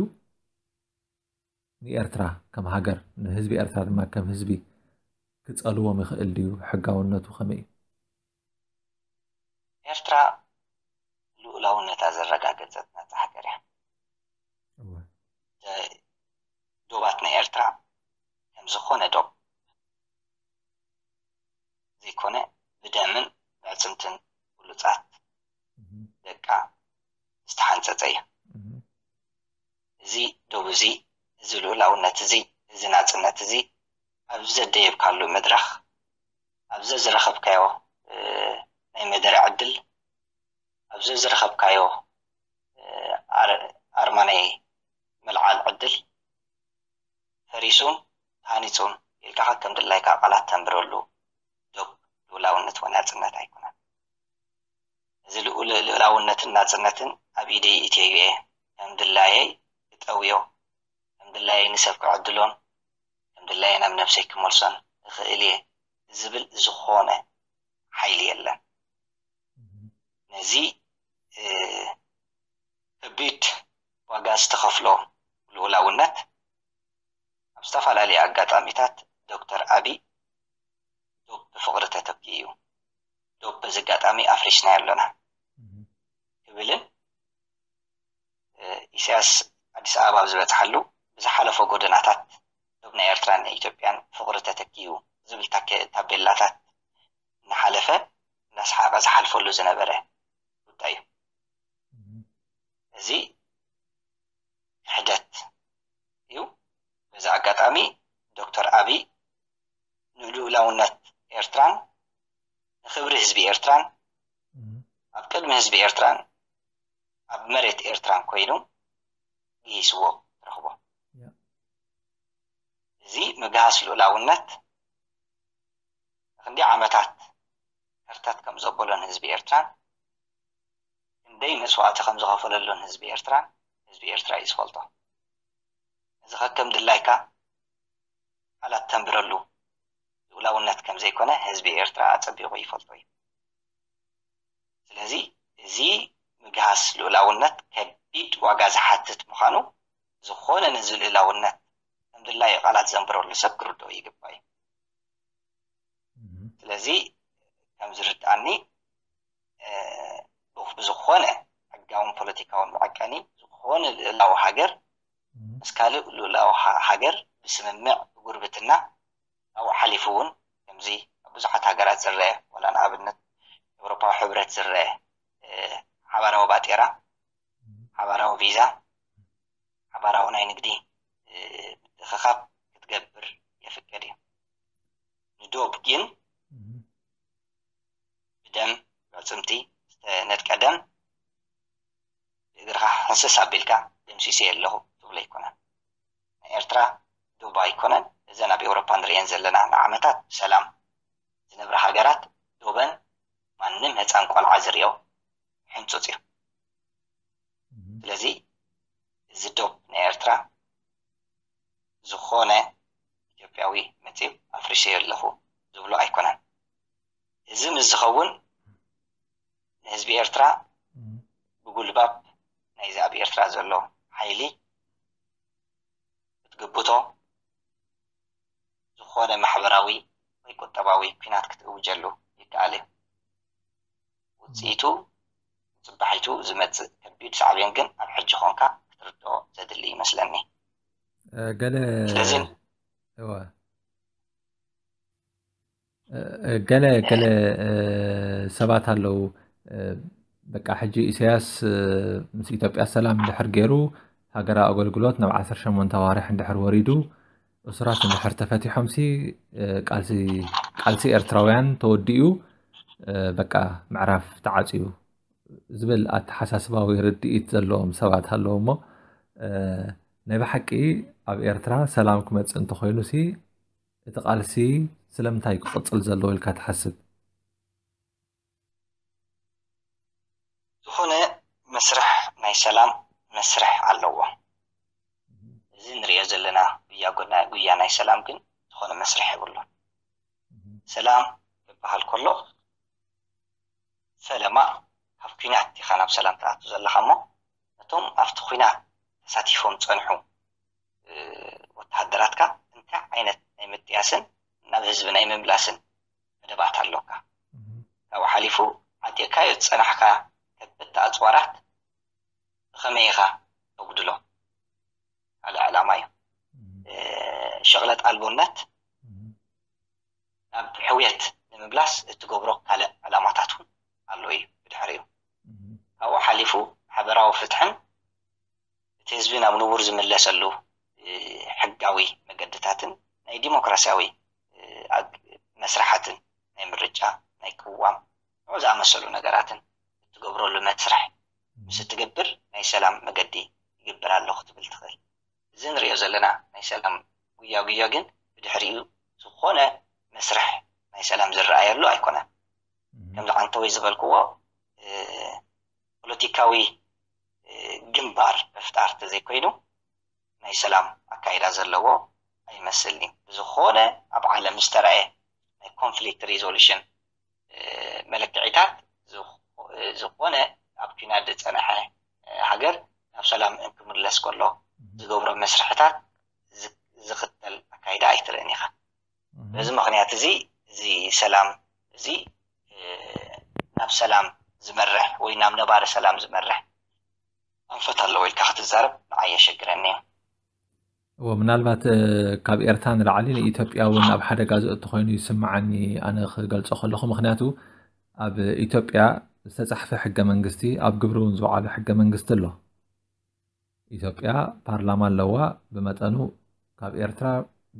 ንኤርትራ ከም ሃገር ንህዝቢ ኤርትራ ድማ ከም ህዝቢ ክጸልዎም ይኽእል ድዩ? ሕጋውነቱ ከመይ እዩ? ኤርትራ ልኡላውነታ ዘረጋገጸት ናጻ ሃገር እያ። ዶባት ናይ ኤርትራ ከም ዝኾነ ዶብ ዘይኮነ ብደምን ብዕጽምትን ብሉጻት ደቃ ዝተሓንጸጸ እዩ። እዚ ዶብ እዚ፣ እዚ ልኡላውነት እዚ፣ እዚ ናጽነት እዚ ኣብ ዘደየብካሉ መድረኽ፣ ኣብ ዘዝረኸብካዮ ናይ መደረ ዕድል፣ ኣብ ዘዝረኸብካዮ ኣርማ ናይ ምልዓል ዕድል፣ ፈሪሱን ተሃኒጹን ኢልካ ከከም ድላይካ ቃላት ተንብረሉ ዶብ ልኡላውነት ወይ ናጽነት ኣይኮነን። እዚ ልኡል ልኡላውነትን ናጽነትን ኣብ ኢደይ ኢትዮዩ'የ። ከም ድላየይ ክጠውዮ፣ ከም ድላየይ ንሰብ ክዕድሎን ከም ድላየይ ናብ ነብሰይ ክመልሶን እኽእል'የ ዝብል ዝኾነ ሓይሊ የለን። ነዚ ከቢድ ዋጋ ዝተኸፍሎ ልኡላውነት ኣብ ዝተፋላለየ ኣጋጣሚታት ዶክተር ኣቢይ ዶብ ብፍቕሪ ተተኪኡ'ዩ። ዶብ በዚ ኣጋጣሚ ኣፍሪስናዮ ኣሎና ክብልን ኢሳያስ ኣዲስ ኣበባ ኣብ ዝበጽሓሉ ብዝሓለፎ ጎደናታት ዶብ ናይ ኤርትራን ናይ ኢትዮጵያን ፍቕሪ ተተኪዩ ዝብል ታቤላታት እናሓለፈ እናሰሓቐ ዝሓልፈሉ ዝነበረ ጉዳይ እዩ እዚ ክሕደት እዩ በዚ ኣጋጣሚ ዶክተር ኣብይ ንልኡላውነት ኤርትራን ንክብሪ ህዝቢ ኤርትራን ኣብ ቅድሚ ህዝቢ ኤርትራን ኣብ መሬት ኤርትራን ኮይኑ ግሂስዎ ትረኽቦ። እዚ ምግሃስ ልኡላውነት ንክንደይ ዓመታት ከርተት ከም ዘበሎን ህዝቢ ኤርትራን ክንደይ መስዋእቲ ከም ዝኸፈለሉን ህዝቢ ኤርትራን ህዝቢ ኤርትራ እዩ ዝፈልጦ። እዚ ከከም ድላይካ ቃላት ተንብረሉ ልኡላውነት ከም ዘይኮነ ህዝቢ ኤርትራ ኣጸቢቑ ይፈልጦ እዩ። ስለዚ እዚ ምግሃስ ልኡላውነት ከቢድ ዋጋ ዝሓትት ምዃኑ ዝኾነ ነዚ ልኡላውነት ከም ድላዩ ቃላት ዘንብረሉ ሰብ ክርድኦ ይግባእ እዩ። ስለዚ ከም ዝርድኣኒ ብዝኾነ ሕጋውን ፖለቲካውን መዐቀኒ ዝኾነ ልእላዊ ሃገር ምስ ካልእ ልኡላዊ ሃገር ብስምምዕ ጉርብትና ካብኡ ሓሊፉ እውን ከምዚ ኣብ ብዙሓት ሃገራት ዝረኣ ዋላ ንኣብነት ኤውሮፓዊ ሕብረት ዝረኣ ሓባራዊ ባጤራ፣ ሓባራዊ ቪዛ፣ ሓባራዊ ናይ ንግዲ ምትእኽኻብ ክትገብር የፍቅድ እዩ። ንዶብ ግን ብደም ኣዕጽምቲ ዝተነድቀ ደም እግርኻ ህስስ ኣቢልካ ደምሲሰዮ ኣለኹ ትብሎ ኣይኮነን። ናይ ኤርትራ ዶባ ኣይኮነን እዘን ኣብ ኤውሮፓ ንርእየን ዘለና ንዓመታት ብሰላም ዝነብራ ሃገራት ዶበን ማንም ህጻን ቆልዓ ዝርእዮ ሕንጹጽ እዩ። ስለዚ እዚ ዶብ ናይ ኤርትራ ዝኾነ ኢትዮጵያዊ መጺኡ ኣፍሪሰዮ ኣለኹ ዝብሎ ኣይኮነን። እዚ ምስ ዝኸውን ንህዝቢ ኤርትራ ብጉልባብ ናይዚ ኣብ ኤርትራ ዘሎ ሓይሊ ክትግብቶ ዝኾነ ማሕበራዊ ወይ ቁጠባዊ ኩናት ክትእውጀሉ ይከኣል እዩ። ውጽኢቱ ጽባሒቱ ዝመጽእ ከቢድ ሳዕቤን ግን ኣብ ሕጂ ኾንካ ክትርድኦ ዘድሊ ይመስለኒ። ገለ ስለዚ ገለ ገለ ሰባት ኣለው በቃ ሕጂ ኢሳያስ ምስ ኢትዮጵያ ሰላም እንድሕር ገይሩ ሃገራዊ ኣገልግሎት ናብ 18 ኣዋርሕ እንድሕር ወሪዱ እሱራት እንድሕር ተፈቲሖምሲ ቃልሲ ኤርትራውያን ተወዲኡ በቃ ምዕራፍ ተዓፅዩ ዝብል ኣተሓሳስባዊ ርድኢት ዘለዎም ሰባት ኣለዎ እሞ ናይ ብሓቂ ኣብ ኤርትራ ሰላም ክመፅእ እንተኮይኑ ሲ እቲ ቃልሲ ስለምንታይ እዩ ክቕፅል ዘለዎ ኢልካ ትሓስብ? ዝኾነ መስርሕ ናይ ሰላም መስርሕ ኣለዎ። እዚ ንርእዮ ዘለና ጉያ ናይ ሰላም ግን ዝኾነ መስርሕ የብሉን። ሰላም ክበሃል ከሎ ፈለማ ካብ ኲናት ኢኻ ናብ ሰላም ትኣቱ ዘለኻ እሞ ነቶም ኣብቲ ኲናት ተሳቲፎም ዝፀንሑ ወተሃደራትካ እንታይ ዓይነት ናይ ምጥያስን ናብ ህዝቢ ናይ ምምላስን መደባት ኣሎካ? ካብኡ ሓሊፉ ዓጢቕካዮ ዝጸናሕካ ከበድቲ ኣጽዋራት ብኸመይ ኢኻ ተጉድሎ? ካልእ ዕላማ እዩ። ሽቕለት ኣልቦነት ናብ ሕውየት ንምምላስ እትገብሮ ካልእ ዕላማታት እውን ኣሎ እዩ ብድሕሪኡ። ካብኡ ሓሊፉ ማሕበራዊ ፍትሕን እቲ ህዝቢ ናብ ንቡር ዝምለሰሉ ሕጋዊ መገድታትን ናይ ዲሞክራሲያዊ መስርሓትን ናይ ምርጫ፣ ናይ ቅዋም ከምኡ ዝኣመሰሉ ነገራትን እትገብረሉ መትስርሕ ምስ እትገብር ናይ ሰላም መገዲ ይገብር ኣሎ ክትብል ትኽእል። እዚ ንርእዮ ዘለና ናይ ሰላም ጉያጉዮ ግን ብድሕሪኡ ዝኾነ መስርሕ ናይ ሰላም ዝረኣየሉ ኣይኮነን። ከምዚ ዓንተወይ ዝበልክዎ ፖለቲካዊ ግንባር ምፍጣር ተዘይኮይኑ ናይ ሰላም ኣካይዳ ዘለዎ ኣይመስልን'ዩ። ብዝኾነ ኣብ ዓለም ዝተራእየ ናይ ኮንፍሊክት ሪዞሉሽን መለክዒታት ዝኾነ ኣብ ኲናት ዝጸንሐ ሃገር ናብ ሰላም እንክምለስ ከሎ ዝገብሮ መስርሕታት ዝኽተል ኣካይዳ ኣይትርእን ኢኻ። በዚ ምኽንያት እዚ እዚ ሰላም እዚ ናብ ሰላም ዝመርሕ ወይ ናብ ነባሪ ሰላም ዝመርሕ ኣንፈት ኣለዎ ኢልካ ክትዛረብ ንዓይ የሸግረኒ እዩ እዎ ምናልባት ካብ ኤርትራ ንላዕሊ ንኢትዮጵያ እውን ኣብ ሓደጋ ዘእቱ ኮይኑ ይስምዓኒ ኣነ ክገልፆ ከለኹ ምክንያቱ ኣብ ኢትዮጵያ ዝተፃሕፈ ሕገ መንግስቲ ኣብ ግብሪ እውን ዝውዓሉ ሕገ መንግስቲ ኣሎ ኢትዮጵያ ፓርላማ ኣለዋ ብመጠኑ ካብ ኤርትራ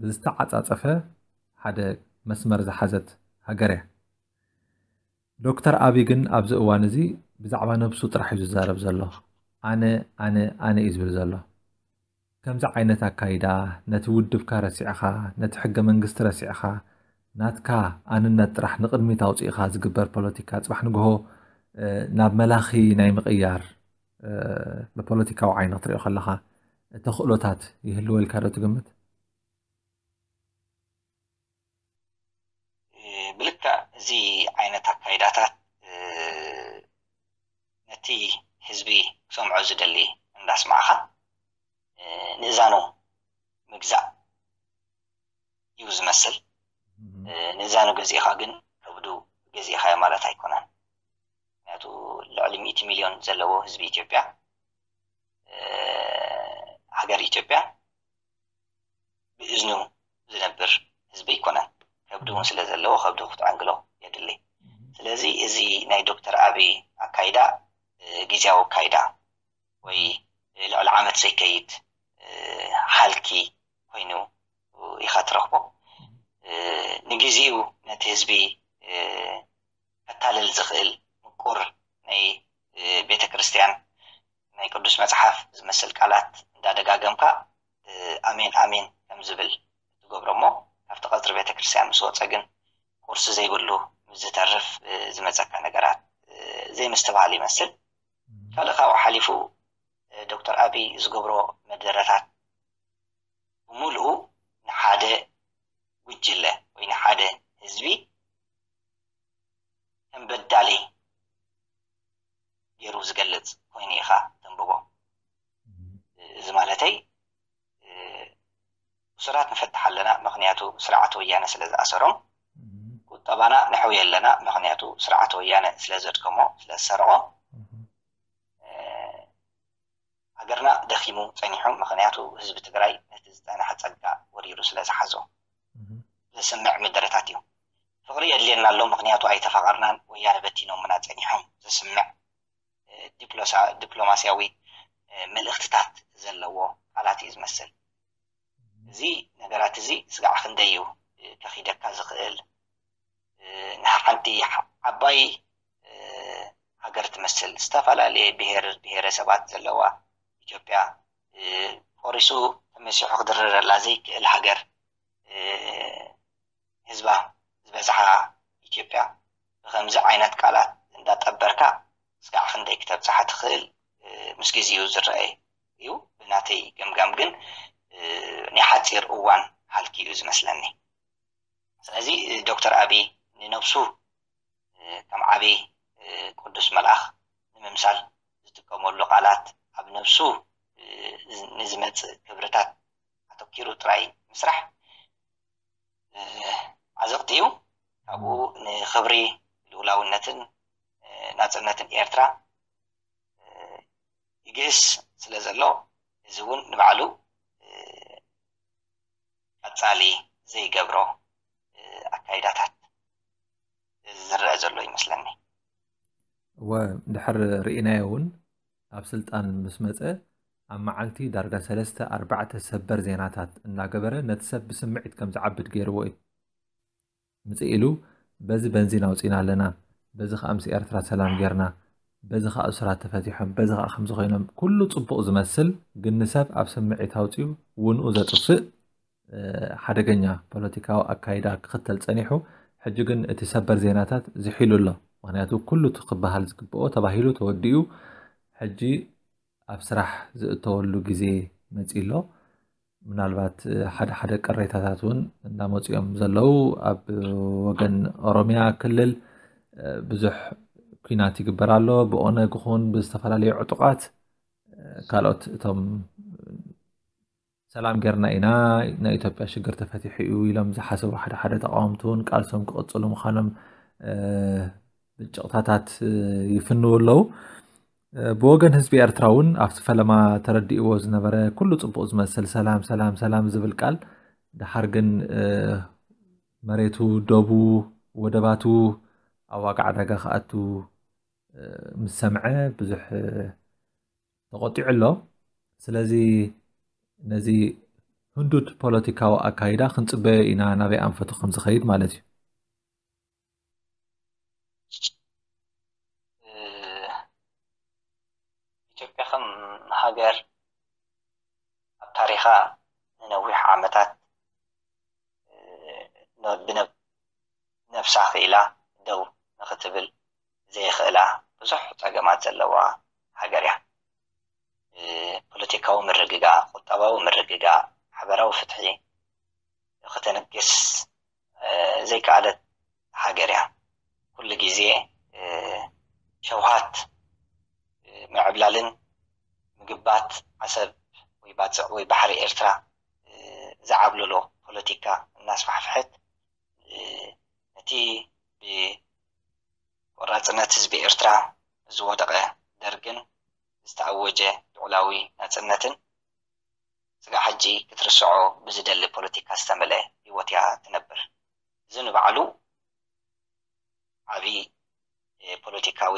ብዝተዓጻጸፈ ሓደ መስመር ዝሓዘት ሃገር እያ። ዶክተር ኣቢ ግን ኣብዚ እዋን እዚ ብዛዕባ ነብሱ ጥራሕ እዩ ዝዛረብ ዘሎ። ኣነ ኣነ ኣነ እዩ ዝብል ዘሎ። ከምዚ ዓይነት ኣካይዳ ነቲ ውድብካ ረሲዕኻ ነቲ ሕገ መንግስቲ ረሲዕኻ ናትካ ኣንነት ጥራሕ ንቕድሚት ኣውፂእኻ ዝግበር ፖለቲካ ፅባሕ ንግሆ ናብ መላኺ ናይ ምቕያር ብፖለቲካዊ ዓይኒ ክትሪኦ ከለኻ ተኽእሎታት ይህልወልካ ዶ ትግምት? ብልክዕ እዚ ዓይነት ኣካይዳታት ነቲ ህዝቢ ክሰምዖ ዝደሊ እንዳስማዕኻ ንእዛኑ ምግዛእ እዩ ዝመስል። ንእዛኑ ገዚእኻ ግን ከብዱ ገዚእኻዮ ማለት ኣይኮነን። ምክንያቱ ልዕሊ ሚእቲ ሚልዮን ዘለዎ ህዝቢ ኢትዮጵያ ሃገር ኢትዮጵያ ብእዝኑ ዝነብር ህዝቢ ኣይኮነን። ከብዲ እውን ስለ ዘለዎ ከብዱ ክትዕንግሎ የድሊ። ስለዚ እዚ ናይ ዶክተር ኣብይ ኣካይዳ ግዜያዊ ኣካይዳ ወይ ልዕሊ ዓመት ዘይከይድ ሃልኪ ኮይኑ ኢኻ ትረኽቦ። ንግዜኡ ነቲ ህዝቢ ከታልል ዝኽእል ምቁር ናይ ቤተ ክርስትያን ናይ ቅዱስ መጽሓፍ ዝመስል ቃላት እንዳ ደጋገምካ ኣሜን ኣሜን ከም ዝብል እትገብሮ እሞ ካብቲ ቀጽሪ ቤተ ክርስትያን ምስ ወጸ ግን ቁርሲ ዘይብሉ ምስ ዝተርፍ ዝመጸካ ነገራት ዘይምስትብሃል ይመስል ካልእ ካብኡ ሓሊፉ ዶክተር ኣብይ ዝገብሮ መደረታት ብምልኡ ንሓደ ጉጅለ ወይ ንሓደ ህዝቢ ከም በዳሊ ገይሩ ዝገልጽ ኮይኑ ኢኻ ተንብቦ። እዚ ማለተይ እሱራት ንፈትሕ ኣለና ምክንያቱ ስርዓት ወያነ ስለ ዝኣሰሮም፣ ቁጠባና ነሕውዮ ኣለና ምክንያቱ ስርዓት ወያነ ስለ ዘድከሞ ስለ ዝሰረቆ፣ ሃገርና ደኺሙ ጸኒሑ ምኽንያቱ ህዝቢ ትግራይ ነቲ ዝጸነሐ ጸጋ ወሪሩ ስለ ዝሓዞ ዘስምዕ ምደረታት እዩ። ፍቕሪ የድልየና ኣሎ ምኽንያቱ ኣይተፋቐርናን ወያነ በቲኖምና ጸኒሖም ዘስምዕ ዲፕሎማስያዊ መልእኽትታት ዘለዎ ቃላት እዩ ዝመስል። እዚ ነገራት እዚ ስጋዕ ክንደይ እዩ ከኺደካ ዝኽእል ንሓንቲ ዓባይ ሃገር ትመስል ዝተፈላለየ ብሄር ብሄረሰባት ዘለዋ ኢትዮጵያ ቆሪሱ ተመሲሑ ክድርረላ ዘይክእል ሃገር ህዝባ ዝበዝሓ ኢትዮጵያ ብከምዚ ዓይነት ቃላት እንዳጠበርካ እስካዕ ክንደይ ክተብፅሓ ትኽእል ምስ ግዜኡ ዝረኣይ እዩ ብናተይ ገምጋም ግን ናይ ሓፂር እዋን ሃልኪ እዩ ዝመስለኒ ስለዚ ዶክተር ኣብይ ንነብሱ ከም ዓቢ ቅዱስ መልኣኽ ንምምሳል ዝጥቀመሉ ቃላት ኣብ ነብሱ ንዝመጽእ ክብርታት ኣተኲሩ ጥራይ ምስራሕ ዓዘቕቲ እዩ። ካብኡ ንኽብሪ ልኡላውነትን ናጽነትን ኤርትራ ይግህስ ስለ ዘሎ እዚ እውን ንባዕሉ ቀጻሊ ዘይገብሮ ኣካይዳታት። ዝረኣ ዘሎ ይመስለኒ እወ ድሕር ርኢናዮ እውን ኣብ ስልጣን ምስ መፀ ኣብ መዓልቲ ዳርጋ ሰለስተ ኣርባዕተ ሰበር ዜናታት እናገበረ ነቲ ሰብ ብስምዒት ከም ዝዓብድ ገይርዎ እዩ ምፅእ ኢሉ በዚ በንዚን ኣውፂና ኣለና በዚ ከዓ ምስ ኤርትራ ሰላም ጌርና በዚ ከዓ እሱራት ተፈቲሖም በዚ ከዓ ከምዚ ኮይኖም ኩሉ ፅቡቕ ዝመስል ግን ንሰብ ኣብ ስምዒት ኣውፅኡ ውንኡ ዘጥፍእ ሓደገኛ ፖለቲካዊ ኣካይዳ ክኽተል ጸኒሑ፣ ሕጂ ግን እቲ ሰበር ዜናታት ዝሒሉ ኣሎ። ምኽንያቱ ኩሉ እቲ ክበሃል ዝግበኦ ተባሂሉ ተወዲኡ ሕጂ ኣብ ስራሕ ዝእተወሉ ግዜ መጺኡ ኣሎ። ምናልባት ሓደ ሓደ ቅሬታታት እውን እንዳመጹ እዮም ዘለዉ። ኣብ ወገን ኦሮሚያ ክልል ብዙሕ ኩናት ይግበር ኣሎ ብኦነግ ኹን ብዝተፈላለዩ ዕጡቃት ካልኦት እቶም ሰላም ጌርና ኢና ናይ ኢትዮጵያ ሽግር ተፈቲሑ እዩ ኢሎም ዝሓሰቡ ሓደ ሓደ ተቃወምቲ እውን ቃልሶም ክቕፅሉ ምዃኖም ብጭቕታታት ይፍንው ኣለዉ። ብወገን ህዝቢ ኤርትራ እውን ኣብቲ ፈለማ ተረዲእዎ ዝነበረ ኩሉ ጽቡቕ ዝመስል ሰላም ሰላም ሰላም ዝብል ቃል ድሓር ግን መሬቱ ደቡ ወደባቱ ኣብ ዋጋ ዕዳጋ ክኣቱ ምስ ሰምዐ ብዙሕ ተቖጢዑ ኣሎ። ስለዚ ነዚ ህንዱድ ፖለቲካዊ ኣካይዳ ክንጽበዮ ኢና ናበይ ኣንፈቱ ከም ዝኸይድ ማለት እዩ። ኢትዮጵያ ከም ሃገር ኣብ ታሪኻ ንነዊሕ ዓመታት ብነብሳ ክኢላ ደው ንክትብል ዘይኽእላ ብዙሕ ጸገማት ዘለዋ ሃገር'ያ። ፖለቲካዊ ምርግጋእ፣ ቁጠባዊ ምርግጋእ፣ ማሕበራዊ ፍትሒ ከተንግስ ዘይከኣለት ሃገር'ያ። ኩሉ ግዜ ሸውሃት ምዕብላልን ምግባት ዓሰብ ወይ ባጽዕ ወይ ባሕሪ ኤርትራ ዝዓብለሎ ፖለቲካ እናስፋሕፍሐት፣ እቲ ብቆራፅነት ህዝቢ ኤርትራ ዝወደቐ ደርግን ዝተኣወጀ ልዑላዊ ናፅነትን ስጋዕ ሕጂ ክትርስዖ ብዝደሊ ፖለቲካ ዝተመልኤ ህይወት እያ ትነብር። እዚ ንባዕሉ ዓብዪ ፖለቲካዊ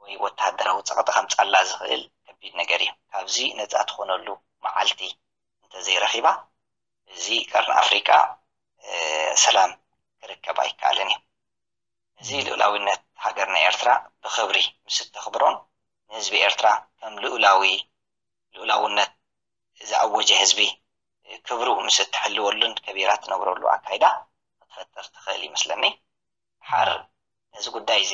ወይ ወተሃደራዊ ፀቕጢ ከምፅኣላ ዝኽእል ከቢድ ነገር እዩ። ካብዚ ነፃ ትኾነሉ መዓልቲ እንተዘይረኺባ እዚ ቀርኒ ኣፍሪቃ ሰላም ክርከብ ኣይከኣልን እዩ። እዚ ልኡላዊነት ሃገርና ኤርትራ ብኽብሪ ምስ እተኽብሮን ንህዝቢ ኤርትራ ከም ልኡላዊ ልኡላውነት ዝኣወጀ ህዝቢ ክብሩ ምስ እትሕልወሉን ከቢራ እትነብረሉ ኣካይዳ ክትፈጥር ትኽእል ይመስለኒ። ድሓር ነዚ ጉዳይ እዚ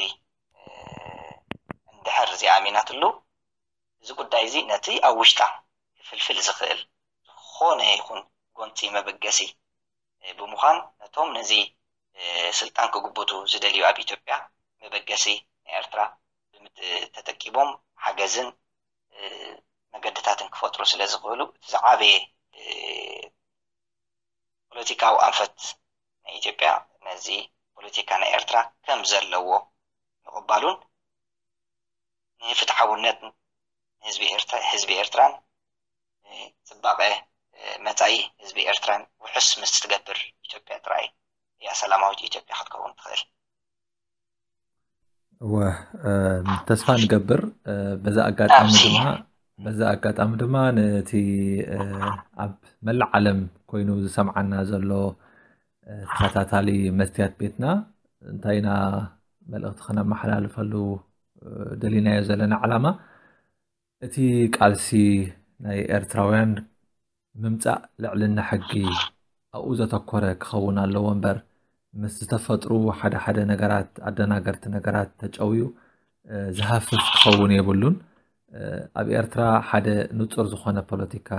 እንድሕር ዘይኣሚናትሉ እዚ ጉዳይ'ዚ ነቲ ኣብ ውሽጣ ክፍልፍል ዝኽእል ዝኾነ ይኹን ጎንጺ መበገሲ ብምዃን ነቶም ነዚ ስልጣን ክጉብቱ ዝደልዩ ኣብ ኢትዮጵያ መበገሲ ናይ ኤርትራ ተተኪቦም ሓገዝን መገድታትን ክፈጥሩ ስለዝኽእሉ እቲ ዝዓበየ ፖለቲካዊ ኣንፈት ናይ ኢትዮጵያ ነዚ ፖለቲካ ናይ ኤርትራ ከም ዘለዎ ምቕባሉን ንፍትሓውነት ህዝቢ ኤርትራን ንጽባቐ መጻኢ ህዝቢ ኤርትራን ውሑስ ምስ እትገብር ኢትዮጵያ ጥራይ እያ ሰላማዊት ኢትዮጵያ ክትከውን ትኽእል። እወ ተስፋ ንገብር። በዚ ኣጋጣሚ ኣብዚ ድማ በዚ ኣጋጣሚ ድማ ነቲ ኣብ መላእ ዓለም ኮይኑ ዝሰምዓና ዘሎ ተኸታታሊ መስትያት ቤትና እንታይ ኢና መልእኽቲ ከነመሓላልፈሉ ደሊናዮ ዘለና ዓላማ እቲ ቃልሲ ናይ ኤርትራውያን ምምፃእ ልዕልና ሕጊ ኣብኡ ዘተኮረ ክኸውን ኣለዎ እምበር ምስ ዝተፈጥሩ ሓደ ሓደ ነገራት ኣደናገርቲ ነገራት ተጨውዩ ዝሃፍፍ ክኸውን የብሉን ኣብ ኤርትራ ሓደ ንጹር ዝኾነ ፖለቲካ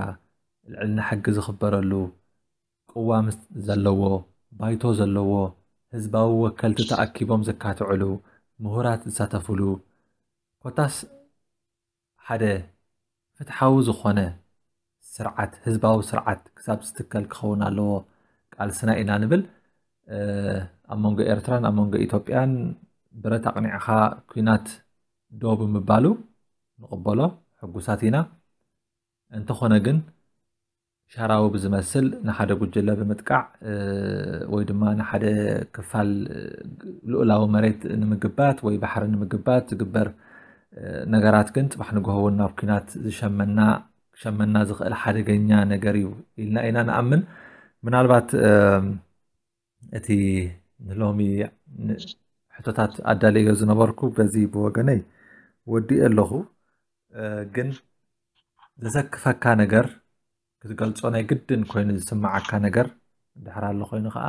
ልዕልና ሕጊ ዝኽበረሉ ቅዋም ዘለዎ፣ ባይቶ ዘለዎ፣ ህዝባዊ ወከልቲ ተኣኪቦም ዘካትዕሉ፣ ምሁራት ዝሳተፍሉ፣ ኮታስ ሓደ ፍትሓዊ ዝኾነ ስርዓት፣ ህዝባዊ ስርዓት ክሳብ ዝትከል ክኸውን ኣለዎ ቃልስና ኢና ንብል። ኣብ መንጎ ኤርትራን ኣብ መንጎ ኢትዮጵያን ብረት ኣቕኒዕኻ ኩናት ዶ ብምባሉ ንቕበሎ ሕጉሳት ኢና። እንተኾነ ግን ሻራዊ ብዝመስል ንሓደ ጉጅለ ብምጥቃዕ ወይ ድማ ንሓደ ክፋል ልኡላዊ መሬት ንምግባት ወይ ባሕሪ ንምግባት ዝግበር ነገራት ግን ፅባሕ ንግሆ እውን ናብ ኩናት ዝሸመና ክሸመና ዝኽእል ሓደገኛ ነገር እዩ ኢልና ኢና ንኣምን ምናልባት እቲ ንሎሚ ሕቶታት ኣዳለዮ ዝነበርኩ በዚ ብወገነይ ወዲእ ኣለኹ ግን ዘሰክፈካ ነገር ክትገልጾ ናይ ግድን ኮይኑ ዝስምዓካ ነገር ድሕር ኣሎ ኮይኑ ከዓ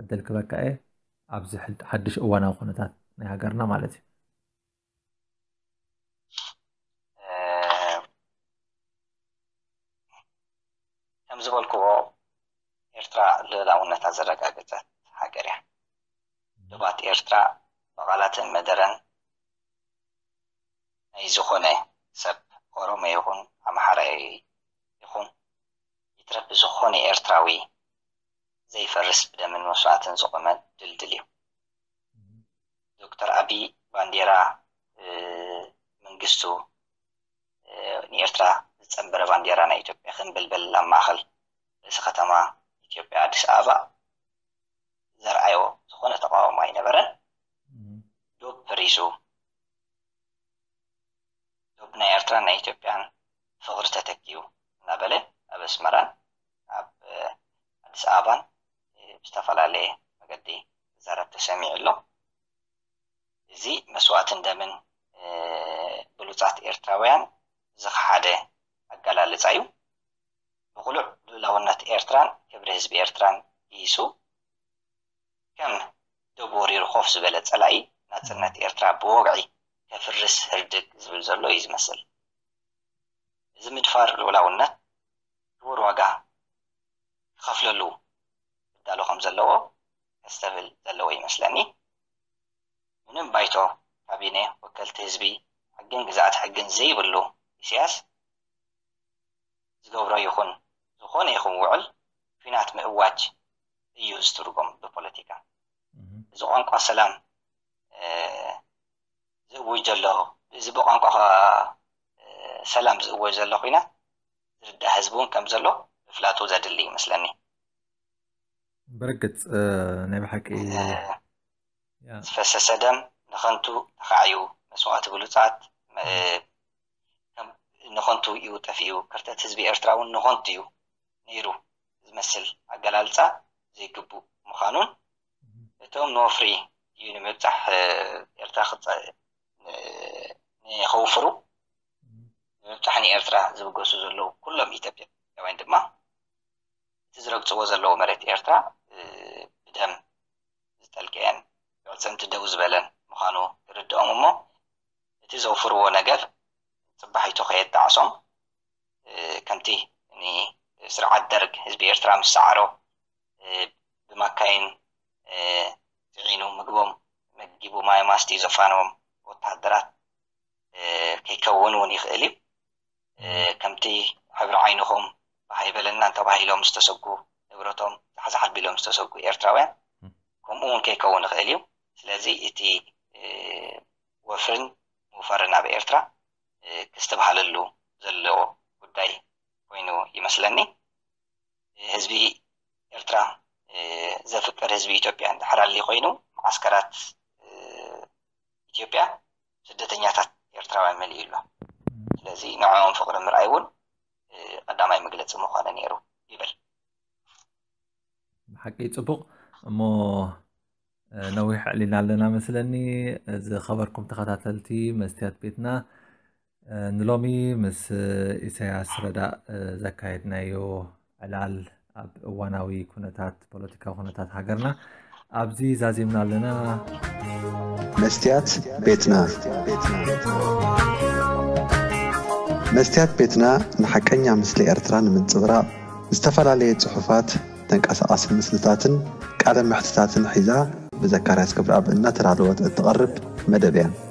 ዕድል ክበካ እየ ኣብዚ ሓድሽ እዋናዊ ኩነታት ናይ ሃገርና ማለት እዩ ከም ዝበልክዎ ኤርትራ ልእላውነታ ዘረጋገጸት ሃገር እያ። ዶባት ኤርትራ ብቓላትን መደረን ናይ ዝኾነ ሰብ ኦሮሞ ይኹን ኣምሓራ ይኹን ይትረፍ ብዝኾነ ኤርትራዊ ዘይፈርስ ብደምን መስዋእትን ዝቖመ ድልድል እዩ። ዶክተር ኣቢ ባንዴራ መንግስቱ ንኤርትራ ዝጸንበረ ባንዴራ ናይ ኢትዮጵያ ክንብልብል ኣብ ማእከል ርእሲ ከተማ ኢትዮጵያ ኣዲስ ኣበባ ዘርኣዮ ዝኾነ ተቃውሞ ኣይነበረን። ዶብ ፈሪሱ ዶብ ናይ ኤርትራን ናይ ኢትዮጵያን ፍቕሪ ተተኪኡ እናበለ ኣብ ኣስመራን ኣብ ኣዲስ ኣበባን ብዝተፈላለየ መገዲ ዝዛረብ ተሰሚዑ ኣሎ። እዚ መስዋእትን ደምን ብሉጻት ኤርትራውያን ዝኸሓደ ኣገላልጻ እዩ። ብቕሉዕ ልኡላውነት ኤርትራን ክብሪ ህዝቢ ኤርትራን ግሂሱ፣ ከም ዶብ ወሪሩ ኮፍ ዝበለ ጸላኢ፣ ናጽነት ኤርትራ ብወግዒ ከፍርስ ህርድግ ዝብል ዘሎ እዩ ዝመስል። እዚ ምድፋር ልኡላውነት ክቡር ዋጋ ክኸፍለሉ ክዳሎ ከም ዘለዎ ከስተብህል ዘለዎ ይመስለኒ። ምንም ባይቶ፣ ካቢኔ፣ ወከልቲ ህዝቢ፣ ሕግን ግዝኣተ ሕግን ዘይብሉ ኢሳያስ ዝገብሮ ይኹን ዝኾነ ይኹን ውዕል ኲናት ምእዋጅ እዩ ዝትርጎም ብፖለቲካ። እዚ ቋንቋ ሰላም ዝእውጅ ዘሎ እዚ ብቋንቋ ሰላም ዝእወጅ ዘሎ ኲናት ዝርዳእ ህዝቢ እውን ከም ዘሎ ምፍላጡ ዘድሊ ይመስለኒ። ብርግጽ ናይ ብሓቂ ዝፈሰሰ ደም ንኸንቱ ተኻዕዩ መስዋእቲ ብሉጻት ንኸንቱ እዩ ጠፊኡ ክርተት ህዝቢ ኤርትራ እውን ንኸንቱ እዩ ነይሩ ዝመስል ኣገላልጻ ዘይግቡእ ምዃኑን እቶም ንወፍሪ እዩ ንምብጻሕ ኤርትራ ንኸውፍሩ ብምብጻሕ ንኤርትራ ዝብገሱ ዘለዉ ኩሎም ኢትዮጵያውያን ድማ እቲ ዝረግጽዎ ዘለዉ መሬት ኤርትራ ብደም ዝጠልቀየን ብኣዕጽምቲ ደው ዝበለን ምዃኑ ክርድኦም እሞ እቲ ዘውፍርዎ ነገር ጽባሒቱ ከየጣዕሶም ከምቲ ንስርዓት ደርግ ህዝቢ ኤርትራ ምስ ሰዓሮ ብማካይን ጽዒኑ ምግቦም መጊቡ ማይ ማስቲ ዘፋነዎም ወተሃደራት ከይከውን እውን ይኽእል እዩ። ከምቲ ሕብሪ ዓይንኹም ባህ ኣይበለናን ተባሂሎም ዝተሰጉ፣ ንብረቶም ዛሕዛሕ ኣቢሎም ዝተሰጉ ኤርትራውያን ከምኡ እውን ከይከውን ይኽእል እዩ። ስለዚ እቲ ወፍርን ምውፋርን ኣብ ኤርትራ ክስትብሃለሉ ዘለዎ ጉዳይ ኮይኑ ይመስለኒ። ህዝቢ ኤርትራ ዘፍቅር ህዝቢ ኢትዮጵያ እንድሕር ኣሊ ኮይኑ መዓስከራት ኢትዮጵያ ስደተኛታት ኤርትራውያን መሊኡ ኣሎ። ስለዚ ንዕኦም ፍቕሪ ምርኣይ እውን ቐዳማይ መግለፂ ምኾነ ነይሩ ይብል። ብሓቂ ፅቡቕ እሞ ነዊሕ ኣዕሊልና ኣለና መስለኒ። ዝኸበርኩም ተኸታተልቲ መስትያት ቤትና ንሎሚ ምስ ኢሰያስ ረዳእ ዘካየድናዮ ዕላል ኣብ እዋናዊ ኩነታት ፖለቲካዊ ኩነታት ሃገርና ኣብዚ ዛዚምና ኣለና መስትያት ቤትና መስትያት ቤትና ንሓቀኛ ምስሊ ኤርትራ ንምንጽብራቕ ዝተፈላለየ ጽሑፋት ተንቀሳቓሲ ምስልታትን ቃለ መሕትታትን ሒዛ ብዘካርያስ ገብረኣብ እናተዳለወት እትቐርብ መደብ እያ።